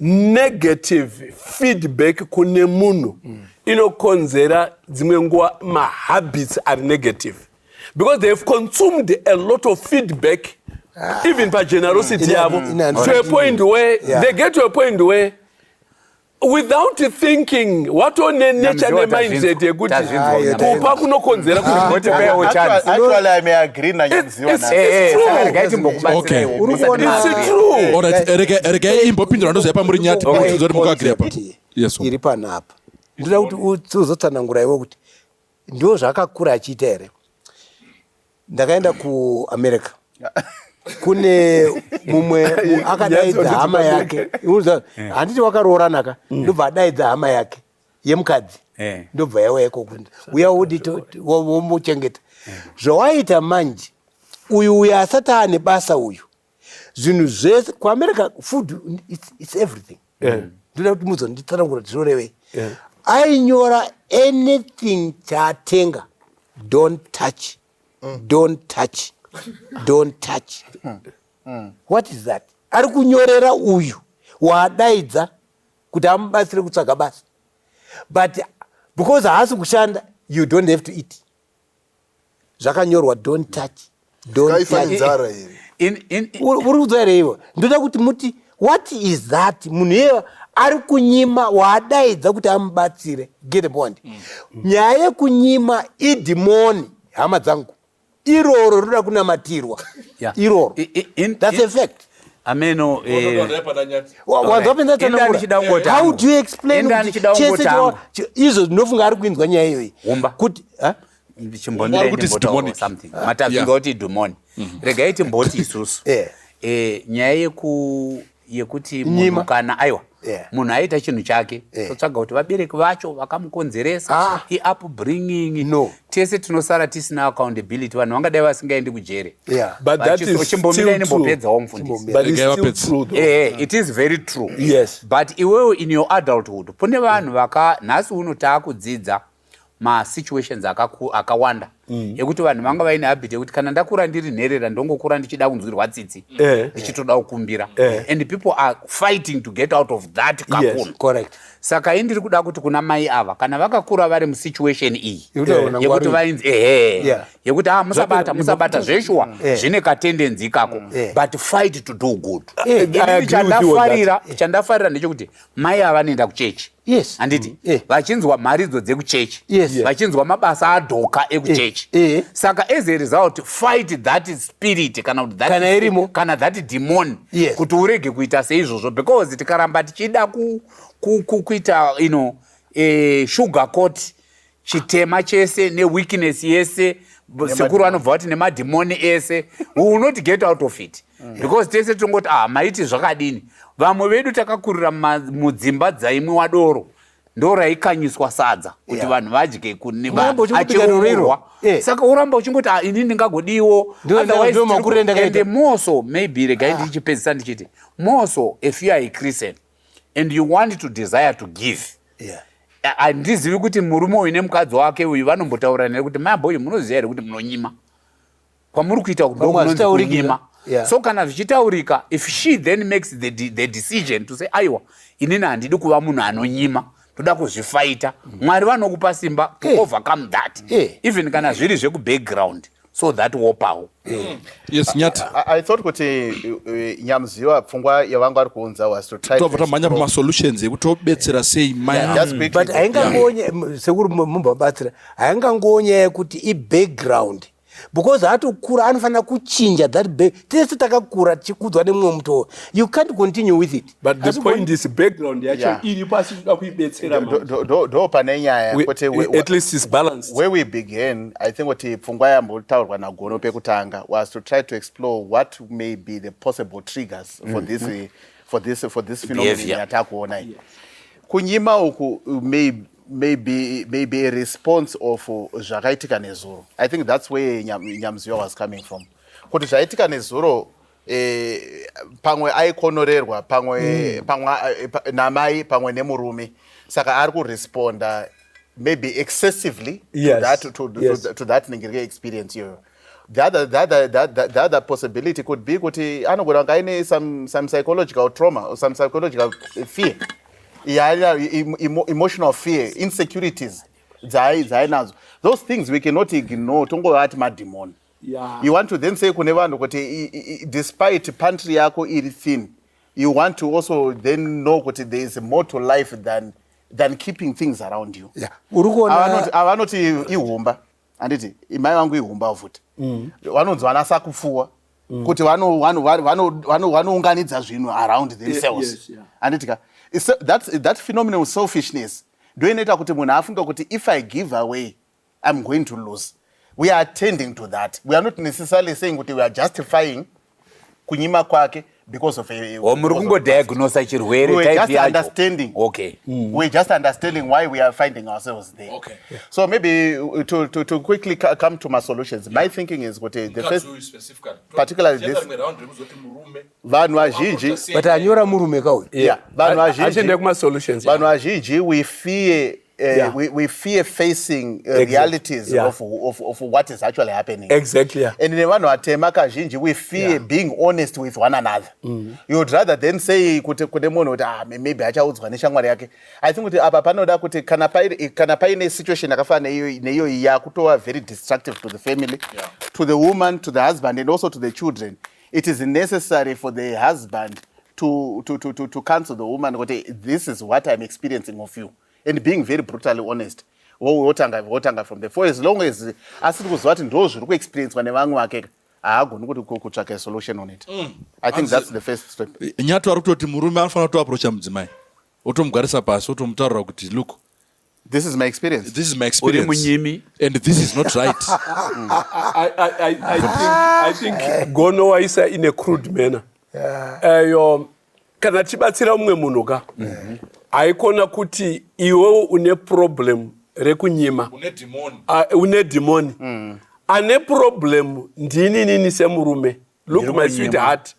Negative feedback kune munhu mm. inokonzera dzimwe nguva mahabits ari negative because they have consumed a lot of feedback ah. even pagenerosity mm. yavo mm. to a point where yeah. they get to a point where without thinking watone nature nemindset yekuti kupa kunokonzera kuti
regai imbopindura ndoziva pamuri nyati pakutunza kuti mukaagreya pa iri panapa
ndoda kuti uzotsanangura iwe kuti ndiwo zvaakakura achiita here ndakaenda kuamerica kune mumwe akadaidza hama yake handiti wakaroorana ka mm. ndobva adaidza hama yake yemukadzi eh. ndobva yauya ikoko uya wodi womuchengeta eh. zvawaita manje uyu uyu asati ane basa uyu zvinhu zvese kuamerica food it's, it's everything eh. ndoda kuti muzo nditsanangura kuti zvorevei ainyora anything chaatenga don't touch mm. don't touch don't touch mm. Mm. what is that ari kunyorera uyu waadaidza kuti amubatsire kutsvaga basa but because haasi kushanda you don't have to eat zvakanyorwa don't touch uri kudzwa here ivo ndoda kuti muti what is that munhu iyeva ari kunyima waadaidza kuti amubatsire get the point mm. nyaya yekunyima idhimoni hama dzangu iroro rinoda kunamatirwa yeah. iroro I, I, in, that's in, a fact ameno
eh,
how do you explain chese izvo ndinofunga ari kuinzwa nyaya iyoyi kuti
chimbondirematazvinga kuti dhumoni regai timboti isusu eh. Eh, nyaya yeku yekuti munhu kana aiwa yeah. munhu aita chinhu chake yeah. totsvaga kuti vabereki vacho vakamukonzeresa ah. iupbringing no. tese tinosara tisina accountability vanhu vangadai vasingaendi kujere yeah. chimbomirainimbopedzawo mfundisi eh, eh, it is very true yes. but iwewo in your adulthood kune vanhu vaka nhasi uno taakudzidza masituations akawanda mm. ekuti vanhu vanga vaine habit yekuti kana ndakura ndiri nherera ndongokura ndichida kunzwirwa tsitsi eh. ndichitoda kukumbira eh. and people are fighting to get out of that kakunu saka
i ndiri kuda
kuti kuna mai ava kana vakakura vari musituation iyi yekuti vainzi ehe yekuti a ah, musabata musabata zveshuwa mm. zvine katendenzi ikako mm. but fight to do good eh, chandafarira ndechekuti mai ava vanoenda kuchechi yes. handiti mm. eh. vachinzwa mharidzo dzekuchechi yes. yeah. vachinzwa mabasa adhoka ekuchechi eh. eh. saka as a result fight that spirit kana kuti that kana irimo kana that demon yes. kuti urege kuita seizvozvo because tikaramba tichida kuita ku, ku, you know, eh, sugar court chitema chese neweakness yese sekuru vanobva vati nemadhimoni ese we will not get out of it mm. because tese tinongoti ah maiti zvakadini vamwe vedu takakurira mudzimba dzaimwe wadoro ndo raikanyiswa sadza kuti yeah. vanhu vadye kuniacheurwa yeah. saka uramba uchingoti ah, ini ndingagodiwo otherwiseende moso maybe regai ah. ndichipedzisa ndichiti moso if you are a christian and you want to desire to give yeah handizivi kuti murume uyu nemukadzi wake uyu vanombotaura nere kuti mai boyo munoziva here kuti munonyima kwamuri kuita kunyima yeah. so kana zvichitaurika if she then makes the, de the decision to say aiwa inini handidi kuva munhu anonyima toda kuzvifaita mm. mwari vanokupa simba to hey. overcome that hey. even kana zviri zvekubackground so that wopawo mm. yes
nyati i thought kuti
eh, nyamuziva pfungwa yavanga vari kuunza was to try tobva tamhanya pama solutions
ekuti tobetsera sei mai but haingangonya
sekuri mumba batsira haingangonya yekuti i background because atokura anofanira kuchinja that bag tese takakura tichikudzwa nemumwe mutoo you can't continue with it but the point is
background yacho iri pasi toda kuibetsera ndo pane
nyaya at least is balance
where we begin
i think kuti pfungwa yambotaurwa nagono pekutanga was to try to explore what may be the possible triggers for mm. this mm. for this for this phenomenon yatakuona yes. kunyima uku may maybe maybe a response of zvakaitika nezuro i think that's where nyamziwa was coming from kuti zvaitika nezuro eh, pamwe aikonorerwa pamwe mm. pamwe eh, namai pamwe nemurume saka ari kuresponda maybe excessively yes. to that, to, yes. to, to that ningirike experience iyoyo the other, the, other, the, other, the other possibility could be kuti anogona kunge aine some, some psychological trauma or some psychological fear yeah, emotional fear insecurities dzaainadzo those things we cannot ignore tongovati madhimoni yeah. you want to then say kune vanhu kuti despite pantry yako iri thin you want to also then know kuti there is more to life than, than keeping things around you yeah. avanoti ihumba handiti imai vangu ihumba futi mm. vanonzi vana sakupfuwa mm. kuti vanounganidza zvinhu around themselves handiti ka that phenomenal selfishness ndoinoita kuti munhu afunga kuti if i give away I'm going to lose. We are attending to that. We are not necessarily saying kuti we are justifying kunyima kwake because of a, oh, muri kungodiagnosa
chirwere we just understanding
okay mm. we just understanding why we are finding ourselves there okay yeah. so maybe uh, to, to, to quickly come to my solutions yeah. my thinking is kuti the first particularly this vanhu vazhinji but anyora murume
kauyu yeah vanhu vazhinji
achende kuma solutions vanhu
vazhinji we
fear Uh, yeah. we, we fear facing uh, exactly. realities yeah. of, of, of what is actually happening exactly yeah. and nevanhu
vatema
kazhinji we fear yeah. being honest with one another mm -hmm. you would rather then say kuti kune munhu kuti ah, maybe achaudzwa neshamwari yake i think kuti apa panoda kuti kana paine kana paine situation yakafana neiyoyi yakutova very destructive to the family yeah. to the woman to the husband and also to the children it is necessary for the husband to, to, to, to, to counsel the woman kuti this is what i'm experiencing of you and being very brutally honest wotanga wotanga from the for as long as asiri kuziva kuti ndo zviri kuexperiencwa nevamwe vake haagoni kuti kutsvaka solution on it mm. i think that's the first step nyatu ari kutoti murume
anofanira kutoaprocha mudzimai otomugwarisa pasi otomutaurira kuti look This is my
experience. This is my experience. Munyimi.
And this is not right. I, I, I, I,
think, I think Gono waisa in a crude manner. Yeah. Uh, your, kana tibatsira umwe munhu ka mhm. haikona kuti iwewo une problem rekunyima une dhimoni ah, mm. ane problem ndiininini semurume look my sweet heart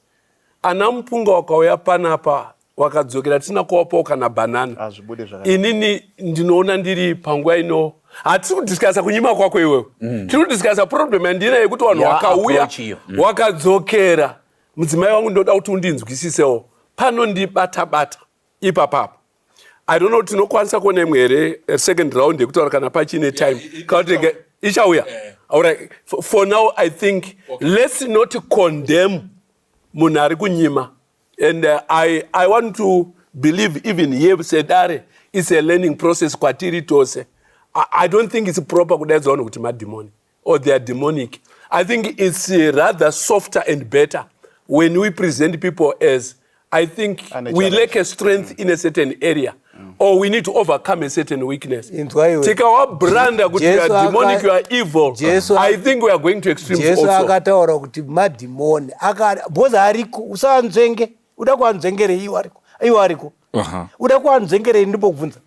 ana mupunga wakauya panapa wakadzokera tisina kuwapawo kana banana hazvibude ah, zvaka inini ndinoona ndiri panguva ino hatisi kudiscasa kunyima kwako iwewe mm. tiri kudiscasa problem yandina yekuti vanhu wakauya mm. wakadzokera mudzimai wangu ndoda kuti undinzwisisewo pano ndibata bata ipapapo i don't know tinokwanisa kuona imwe here eh, second round yekutaura kana pachine time kautenge ichauya eh. alright for now i think okay. let's not condemn munhu ari kunyima and uh, I, i want to believe even here sedare its a learning process kwatiri tose I, i don't think its proper kudaidzwa vanhu kuti madhimoni or their demonic i think its uh, rather softer and better when we present people as i think we lack a strength in a certain area or we need to overcome a certain weakness tikawabranda kuti youare demonic you are evil Jesu, i think we are going to extreme jesu akataura kuti
madhimoni because ariko usaanzvenge uda kuanzvengerei iwo ariko iwo ariko uda kuanzvengerei ndimbokubvunza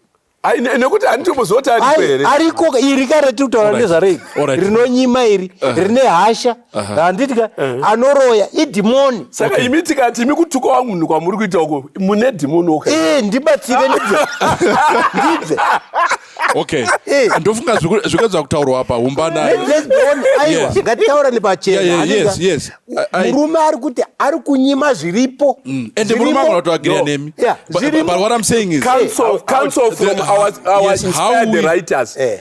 nekuti handitomuzoti ariko here ariko iri kareti
kutaura nezvarei rinonyima iri rine hasha handiti ka anoroya idhimoni saka imi tikati
imi kutuka wangu munhu kwamuri kuita uko mune dhimoni oka eh, ndibatsire
ndibve ndibve
okay eh. ndofunga zvikwedza kutaurwa apa umbana aiwa
ngatitaura nepachena
murume ari
kuti ari kunyima zviripo mm. ende murume agona
kutoagira nemi but what i'm saying is counsel, counsel from
our, our yes, inspired writers eh.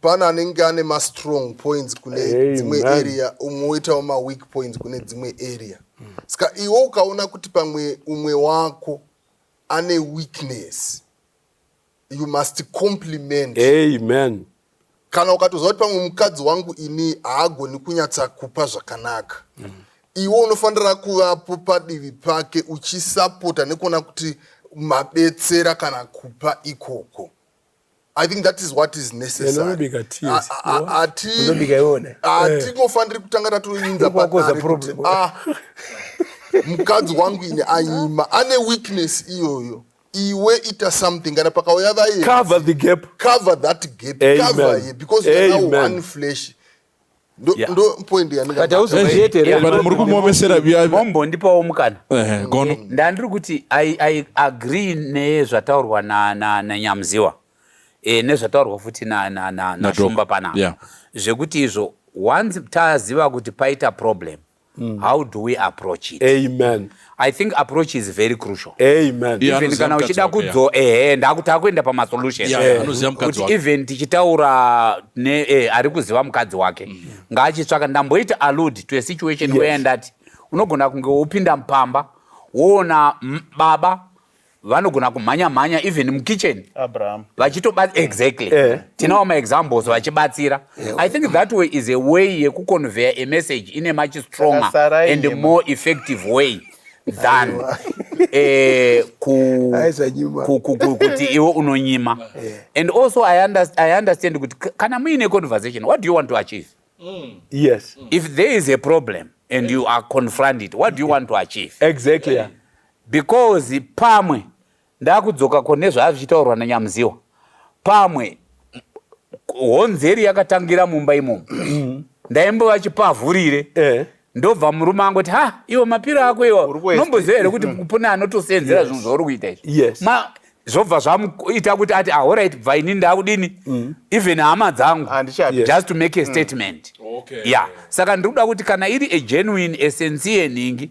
pane
anenge ane mastrong points kune dzimwe area umwe woitawo maweak points kune dzimwe area saka iwe ukaona kuti pamwe umwe wako ane weakness you must compliment amen
kana
ukatoziva kuti pamwe mukadzi wangu ini haagoni kunyatsa kupa zvakanaka mm. iwe unofanira kuvapo padivi pake uchisapota nekuona kuti mabetsera kana kupa ikoko I think that is what is necessary. Hatingofaniri kutanga tatoinza patare kuti ah, mukadzi wangu ini anyima ane weakness iyoyo iwe ita something kana pakauya vaye cover the gap
cover that gap
Amen. cover ye because Amen. now one flesh
muri kumuomesera mombondipawo
mukana gono ndandiri kuti i agree nezvataurwa nanyamuziwa eh, nezvataurwa futi nashumba panapa zvekuti izvo once taziva kuti paita problem mm. how do we approach it amen i think
approach
is very crucial amen yeah, even
kana uchida
kudzo yeah. ehe ndakuti akuenda pamasolution yeah, yeah. yeah. kuti even tichitaura ne eh, ari kuziva mukadzi wake mm. ngaachitsvaka ndamboita allude to a situation yes. where ndati unogona kunge wopinda mupamba woona baba vanogona kumhanya mhanya even mukitchen vachitoba
exactly
eh. tinawo maexamples vachibatsira eh. i think that way is a way yekuconveya a message in a much stronger and more effective way than eh, kuti iwe unonyima eh. and also i understand kuti kana muine conversation what do you want to achieve mm. yes
if there is a
problem and you are confronted what do you want to achieve exactly yeah.
because
pamwe ndakudzoka ko nezvaa zvichitaurwa nanyamuziwa pamwe honzeri yakatangira mumba imomo mm. ndaimbova chipavhurire eh. ndobva murume angu ti ha iwe mapiro ako iwa nomboziva here kuti kupune anotoseenzera zvinhu zvauri kuita izvi zvobva zvamuita kuti ati ahorit ah, bva ini ndakudini mm. even hama dzangu just to make a mm. statement ya saka ndiri kuda kuti kana iri a genuine esensi yenhingi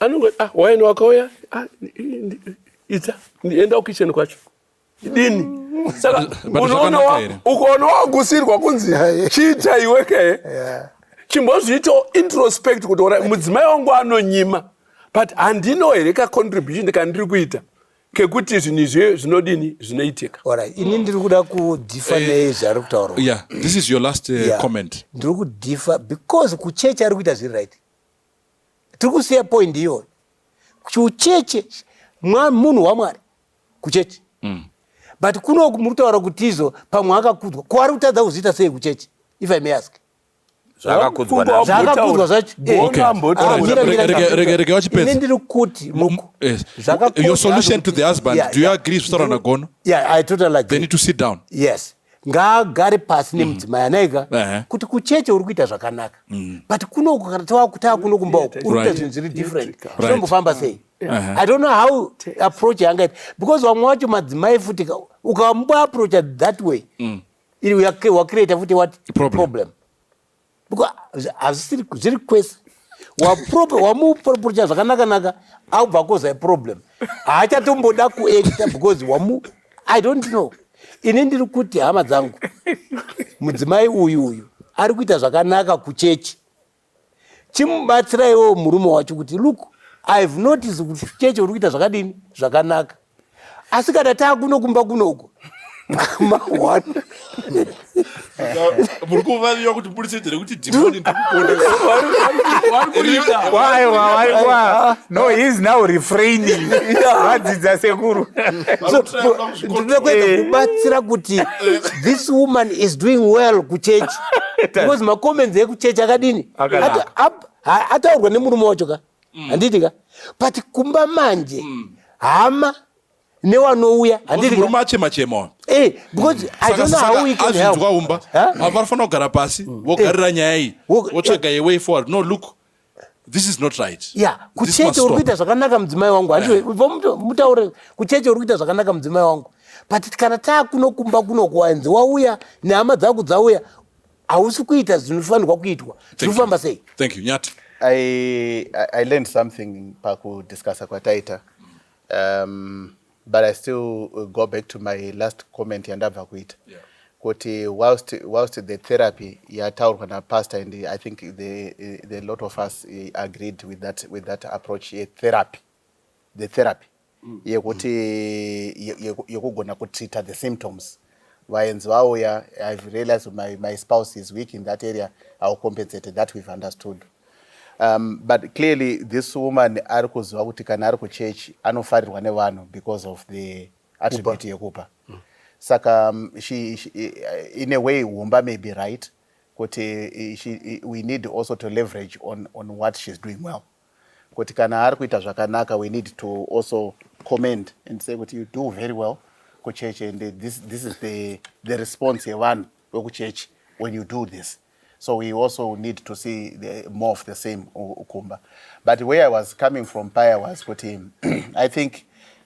anongo ah, waini wakauya ah, ita enda kukicheni kwacho dini saka unoona ukaona wagusirwa kunzi chiita iwe ke chimbozviitawo introspect kuti ora mudzimai wangu anonyima but handino here kacontribution kandiri kuita kekuti zvinhu izvi zvinodini zvinoitika orit ini ndiri kuda
kudhifa eh, nei zvaari kutaurwa
eh, ndiri kudhifa
because kuchechi ari kuita zviri right tiri kusiya point iyoyo kucheche munhu wamwari kucheche mm. but kuno muri kutaura kuti izo pamwe akakudzwa ko ari kutadza kuzviita sei kucheche if i may ask
zvakakudzwa
zvachoregai
wachipedza ndiri kuti
your
solution to the husband yeah, do you yeah. agree zvitaura nagono yeah, i totally agree. they
need to sit down yes ngaagare pasi mhm. nemudzimai anaika kuti kucheche uri kuita zvakanaka mhm. but kunoku kana tavakutaa kuno kumba uku uri kuita zvinhu zviri different zvinombofamba sei i don't know how approach yangaita because vamwe wacho madzimai futi ukamboaproacha that way mm. wakreata futi what problem because hazvisiri zviri kwese wamupropocha zvakanakanaka aubva koza problem haachatomboda kuacta because wamu i don't know ini ndiri kuti hama dzangu mudzimai uyu uyu ari kuita zvakanaka kuchechi chimubatsiraiwo murume wacho kuti look ihave noticed kuti chechi uri kuita zvakadini zvakanaka asi kana taakuno kumba kunoku muri
kuvaviwa kuti murisedzere kuti dhimoni
no he is now refraining vadzidza sekuru
ndinoda kuedza eh. kubatsira kuti eh. this woman is doing well kuchechi because macomments ekuchechi akadini ataurwa nemurume wacho ka mm. handiti ka but kumba manje mm. hama newanouya handimurume achema chema eh, because azvinzwa umba vanofanira
kugara pasi mm. vogarira eh. nyaya iyi votsvaga eh. away forward no look this is not right ya kucheche uri
kuita zvakanaka mudzimai wangu handimutaure kucheche uri kuita zvakanaka mudzimai wangu but kana taakunokumba kunokuwanzi wauya nehama dzako dzauya hausi kuita zvinofanirwa kuitwa zvinofamba sei thank you nyati
i,
I learned something pakudiscussa kwataita um, but i still go back to my last comment yandabva kuita yeah kuti whilst, whilst the therapy yataurwa napastor and i think the, the lot of us eh, agreed with that, with that approach yetherapy the therapy yekuti yekugona kutreata the symptoms vaenzi vauya ive realized my, my spouse is weak in that area iwill compensate that we've understood um, but clearly this woman ari kuziva kuti kana ari kuchurch anofarirwa nevanhu because of the attribute yekupa mm. saka um, she, she, in a way humba may be right kuti she, we need also to leverage on, on what she's doing well kuti kana ari kuita zvakanaka we need to also comment and say kuti you do very well kuchechi and this, this is the, the response yevanhu vekuchechi when you do this so we also need to see the, more of the same ukumba but where i was coming from paya was kuti i think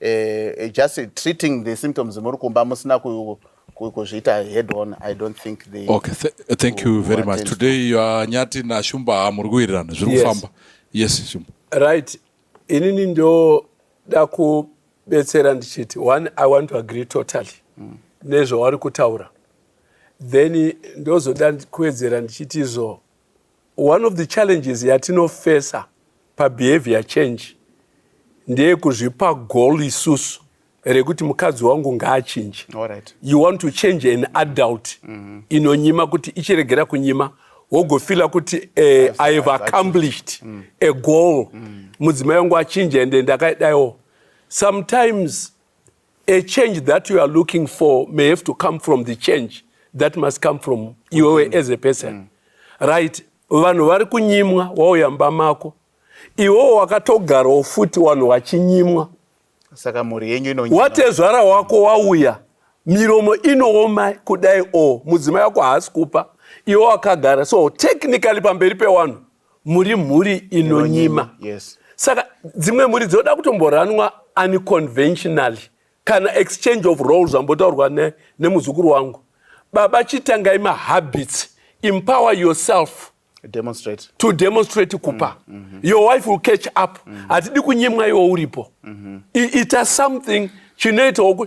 uh, just treating the symptoms muri kumba musina kuzviita head on i don't think they okay Th thank
you very much today you are nyati na shumba muri kuwirirana zviri kufamba yes shumba right inini ndo
da ku betsera ndichiti one i want to agree totally mm. nezvavari kutaura then ndozoda kuwedzera ndichiti izvo One of the challenges yatinofesa pabehavior change ndeyekuzvipa goal isusu rekuti mukadzi wangu ngaachinje right. you want to change an adult mm -hmm. inonyima kuti ichiregera kunyima wogofila kuti eh, i have accomplished mm. a goal mm. mudzimai wangu achinja ende ndakadaiwo sometimes A change that you are looking for may have to come from the change that must come from iwewe mm. as a person mm. right vanhu vari kunyimwa wauya mba mako iwewo wakatogarawo futi vanhu vachinyimwa saka
mhuri yenyu ino watezvara wako
wauya miromo inooma kudai o mudzimai wako haasi kupa iwe wakagara so technically pamberi pewanhu muri mhuri inonyima yes. saka
dzimwe
mhuri dzinoda kutomboranwa unconventionally kana exchange of roles ambotaurwa ne, nemuzukuru wangu baba chitangai mahabits empower yourself demonstrate. to demonstrate kupa mm, mm -hmm. your wife will catch up mm -hmm. hatidi kunyimwa iwo uripo mm -hmm. ita something chinoitawo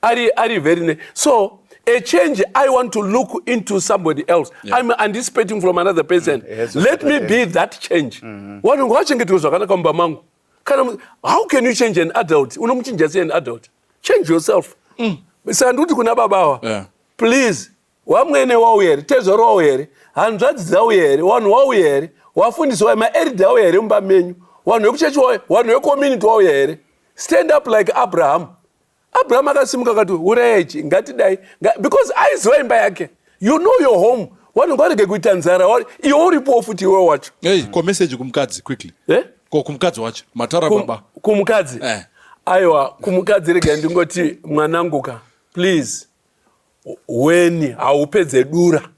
ari ari very ne so a change i want to look into somebody else yeah. i'm anticipating from another person mm. yes, let me be that change mm-hmm. wanhu ngawachengeterwe zvakanaka mumba mangu kana how can you change an adult unomuchinja sei an adult change yourself mm. saka ndikuti kuna baba awa yeah. please wamwene wauya here tezvaro wauya here hanzvadzi dzauya here wanhu wauya here wafundisi wauya maerida auya here mumba menyu wanhu wekuchechi wauya wanhu wekomunity wauya here stand up like abraham abraham akasimuka akati urayai chi ngatidai because aiziva imba yake you know your home vanhu ngarege kuita nzara iwe uripowo futi iwe wacho hey, ko message kumukadzi
quickly eh? ko kumukadzi wacho matara Kum, baba kumukadzi eh.
aiwa kumukadzi rega ndingoti mwananguka please weni haupedze dura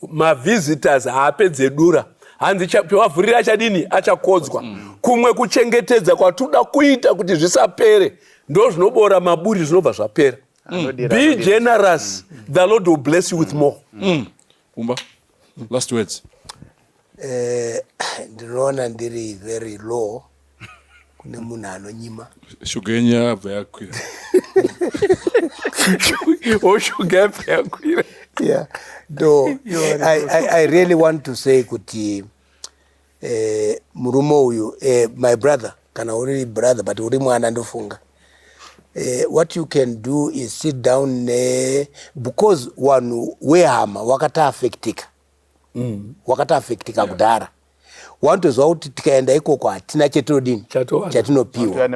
mavisitors haapedze dura hanzi pavavhurira achadini achakodzwa mm. kumwe kuchengetedza kwatinoda kuita kuti zvisapere ndo zvinoboora maburi zvinobva zvapera mm. be generous mm. the lord will bless you with mm. more mm. kumba
last words Eh,
ndinoona ndiri very low kune munhu anonyima shuga yenyu yabva
yakwira
oshuga yabva yakwira yeah
no I, I, i really want to say kuti eh, murume uyu eh, my brother kana uri brother but uri mwana ndofunga eh, what you can do is sit down ne because wanhu wehama wakata affectika mm. wakati affectika yeah. kudhara wanotoziva kuti tikaenda ikoko hatina chetodini chatinopiwa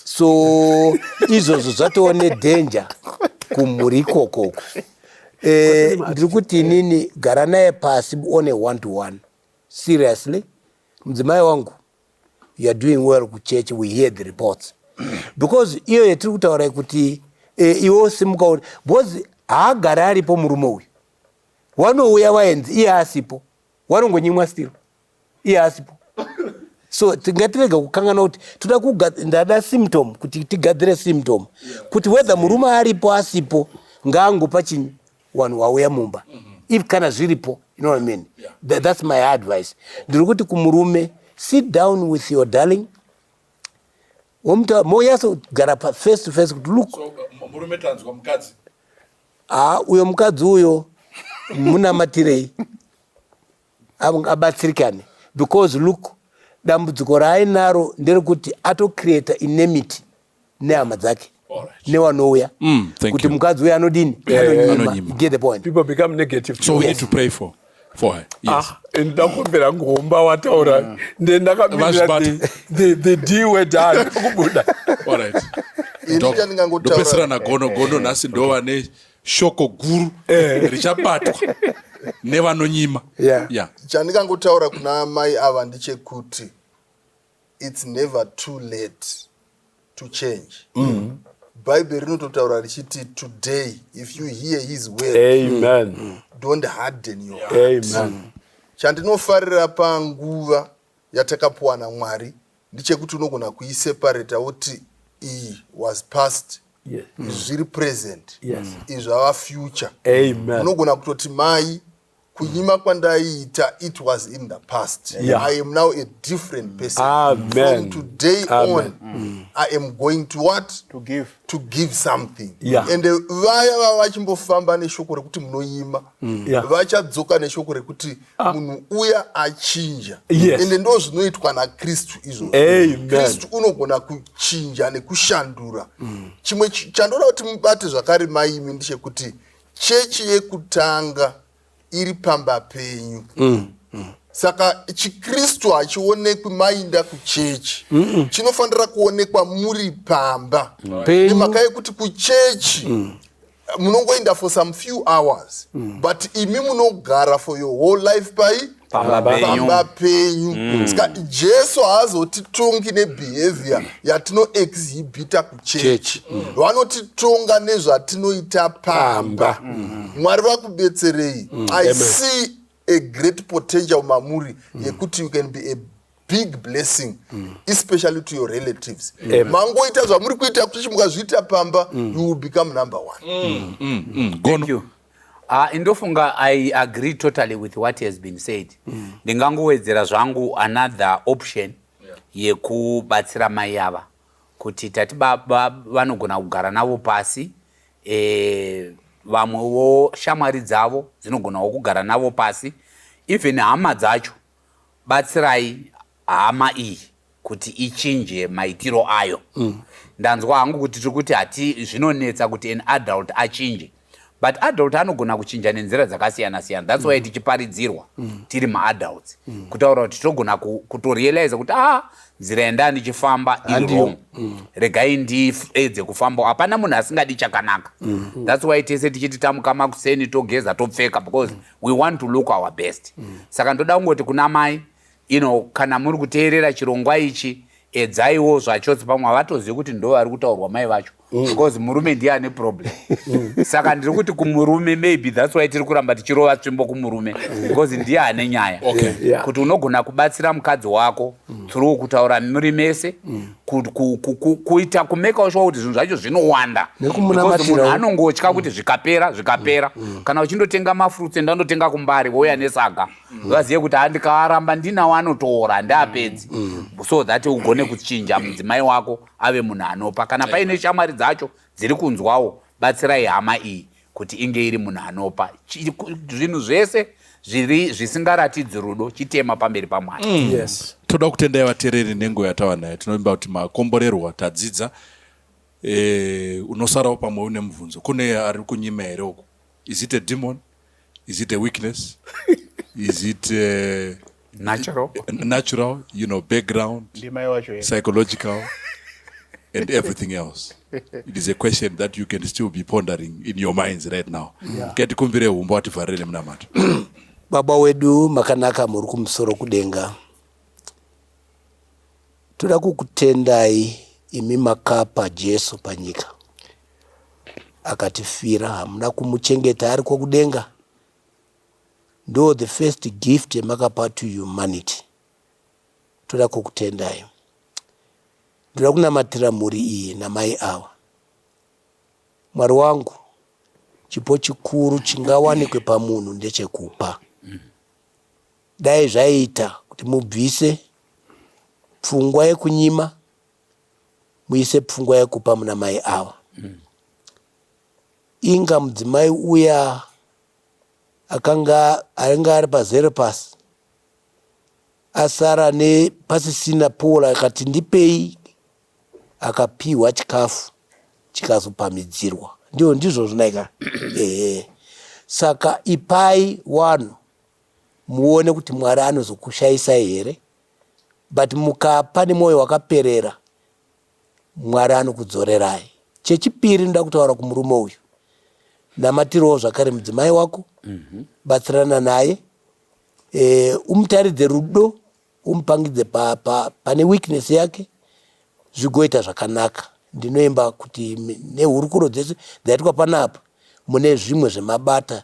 so izvozvo zvatova nedenja kumhuri ikokoko eh, ndiri kuti inini gara naye pasi one one to one seriously mudzimai wangu youare doing well kuchechi we hear the reports because iyo yatiri kutaura kuti eh, iwo simuka uri because haagari aripo murume uyu wanouya waenzi iye asipo wanongonyimwa still iye asipo so tingatirega kukangana kuti toda ndada symptom kuti tigadzire symptom kuti whether murume aripo asipo ngaangopa chinyi wanhu wauya mumba if kana zviripo you know what I mean? yeah. Th that's my advice ndiri kuti kumurume sit down with your darling womutaura moyasa kugara face to face kuti look so, uh, murume tanzwa
mukadzi haa
uyo mukadzi uyo munamatirei abatsirikane because look dambudziko raainaro nderekuti atocreata inemity nehama dzake newanouya mm, kuti mukadzi uya anodini eh, anonyima get the point people become negative so
we need to pray for
for her. Yes. Ah, and ndakumbira
ngomba wataura mm. then ndakamirira the, the, the d word hayo kubuda all
right ndopesera nagono gono nhasi ndova ne shoko guru eh. richabatwa nevanonyima yeah. yeah.
chandikangotaura kuna mai ava ndechekuti It's never too late to change. Mm. Bible rinototaura richiti today if you hear his word. Amen. Mm.
Don't harden
your heart. Amen. Chandinofarira panguva yatakapuwa naMwari ndichekuti unogona kuiseparata woti iyi was past yes. zviri present yes. izvi ava future unogona kutoti mai kunyima kwandaiita it was in the past yeah. i am now a different person Amen. from today
Amen. on mm.
i am going to what to give, to give something yeah. and uh, vaya vava vachimbofamba neshoko rekuti munoima mm. yeah. vachadzoka neshoko rekuti ah. munhu uya achinja yes. ende ndo zvinoitwa nakristu izvozvo kristu unogona kuchinja nekushandura mm. chimwe chandoda kuti mubate zvakare maimi ndechekuti chechi yekutanga iri pamba penyu mm, mm. saka chikristu hachionekwi mainda kuchechi mm -mm. chinofanira kuonekwa muri pamba right. mhaka yekuti kuchechi mm munongoenda for some few hours mm. but imi munogara for your whole life pai pamba penyu mm. ska jesu haazotitongi nebehavior yatinoexhibita kuchechi mm. vanotitonga nezvatinoita pamba mm. mwari vakubetserei i see a great potential mamuri yekuti you can be a big blessing mm. especially to your relatives mm. mangoita zvamuri kuita kuti mukazviita pamba mm. you will become number one mm. Mm. Mm. Mm.
Ah, ndofunga i agree totally with what has been said mm. ndingangowedzera mm. zvangu another option yekubatsira mai ava kuti tati baba vanogona kugara navo pasi e, vamwewo shamwari dzavo dzinogonawo kugara navo pasi even hama dzacho batsirai hama iyi kuti ichinje maitiro ayo mm. ndanzwa hangu kuti tiri kuti hati zvinonetsa kuti an adult achinje but adult anogona kuchinja nenzira dzakasiyana siyana that's why mm. tichiparidzirwa mm. tiri maadults mm. kutaura kuti tinogona kutorealiza kuti ah nzira yanda ndichifamba iriwrong mm. regai ndiedze kufamba hapana munhu asingadi chakanaka mm. that's why tese tichiti tamuka makuseni togeza topfeka because mm. we want to look our best mm. saka ndoda kungoti kuna mai you know, kana muri kuteerera chirongwa ichi edzaiwo zvachose pamwe havatozivi kuti ndo vari kutaurwa mai vacho mm. because murume ndiye ane problem mm. saka ndiri kuti kumurume maybe thats why tiri kuramba tichirova tsvimbo kumurume mm. because ndiye ane nyaya kuti unogona kubatsira mukadzi wako through kutaura muri mese kuita kumekawo shuwa kuti zvinhu zvacho zvinowanda munhu anongotya kuti zvikapera zvikapera mm, mm. kana uchindotenga mafruits enda ndotenga kumbari vouya mm. nesaga vazive kuti andikaaramba ndinawo anotora ndiapedzi so that ugone kuchinja mudzimai wako ave munhu anopa kana paine shamwari dzacho dziri kunzwawo batsirai hama iyi kuti inge iri munhu anopa zvinhu zvese zviri zvisingaratidzi rudo chitema pamberi pamwari mm. yes. toda kutendai
vatereri nenguva yatava nayo tinovimba kuti makomborerwa tadzidza e, unosarawo pamwe une mubvunzo kune ari kunyima here uku is it a demon is it a weakness is it a... Eh, natural natural you know background ndimai wacho psychological and everything else it is a question that you can still be pondering in your minds right now ketikumbire yeah. umba wativharire nemunamato baba
wedu makanaka muri kumusoro kudenga toda kukutendai imi makapa jesu panyika akatifira hamuna kumuchengeta ari kwokudenga ndo the first gift yamakapa to humanity toda kukutendai ndoda kunamatira mhuri iyi namai ava mwari wangu chipo chikuru chingawanikwe pamunhu ndechekupa dai zvaiita kuti mubvise pfungwa yekunyima muise pfungwa yekupa muna mai ava inga mudzimai uya akanga ainge ari pazere pasi asara nepasisina pola akati ndipei akapiwa chikafu chikazopamidzirwa ndiwo ndizvo zvinaika ehe saka ipai wano muone kuti mwari anozokushayisai here but mukapa nemwoyo wakaperera Mwari anokudzorerai. Chechipiri ndoda kutaura kumurume uyu, namatirawo zvakare mudzimai wako, mhm. batsirana naye, e, umutaridze rudo, umupangidze pa, pa, pane weakness yake, zvigoita zvakanaka. Ndinoimba kuti nehurukuro dzese dzaitwa panapa mune zvimwe zvemabata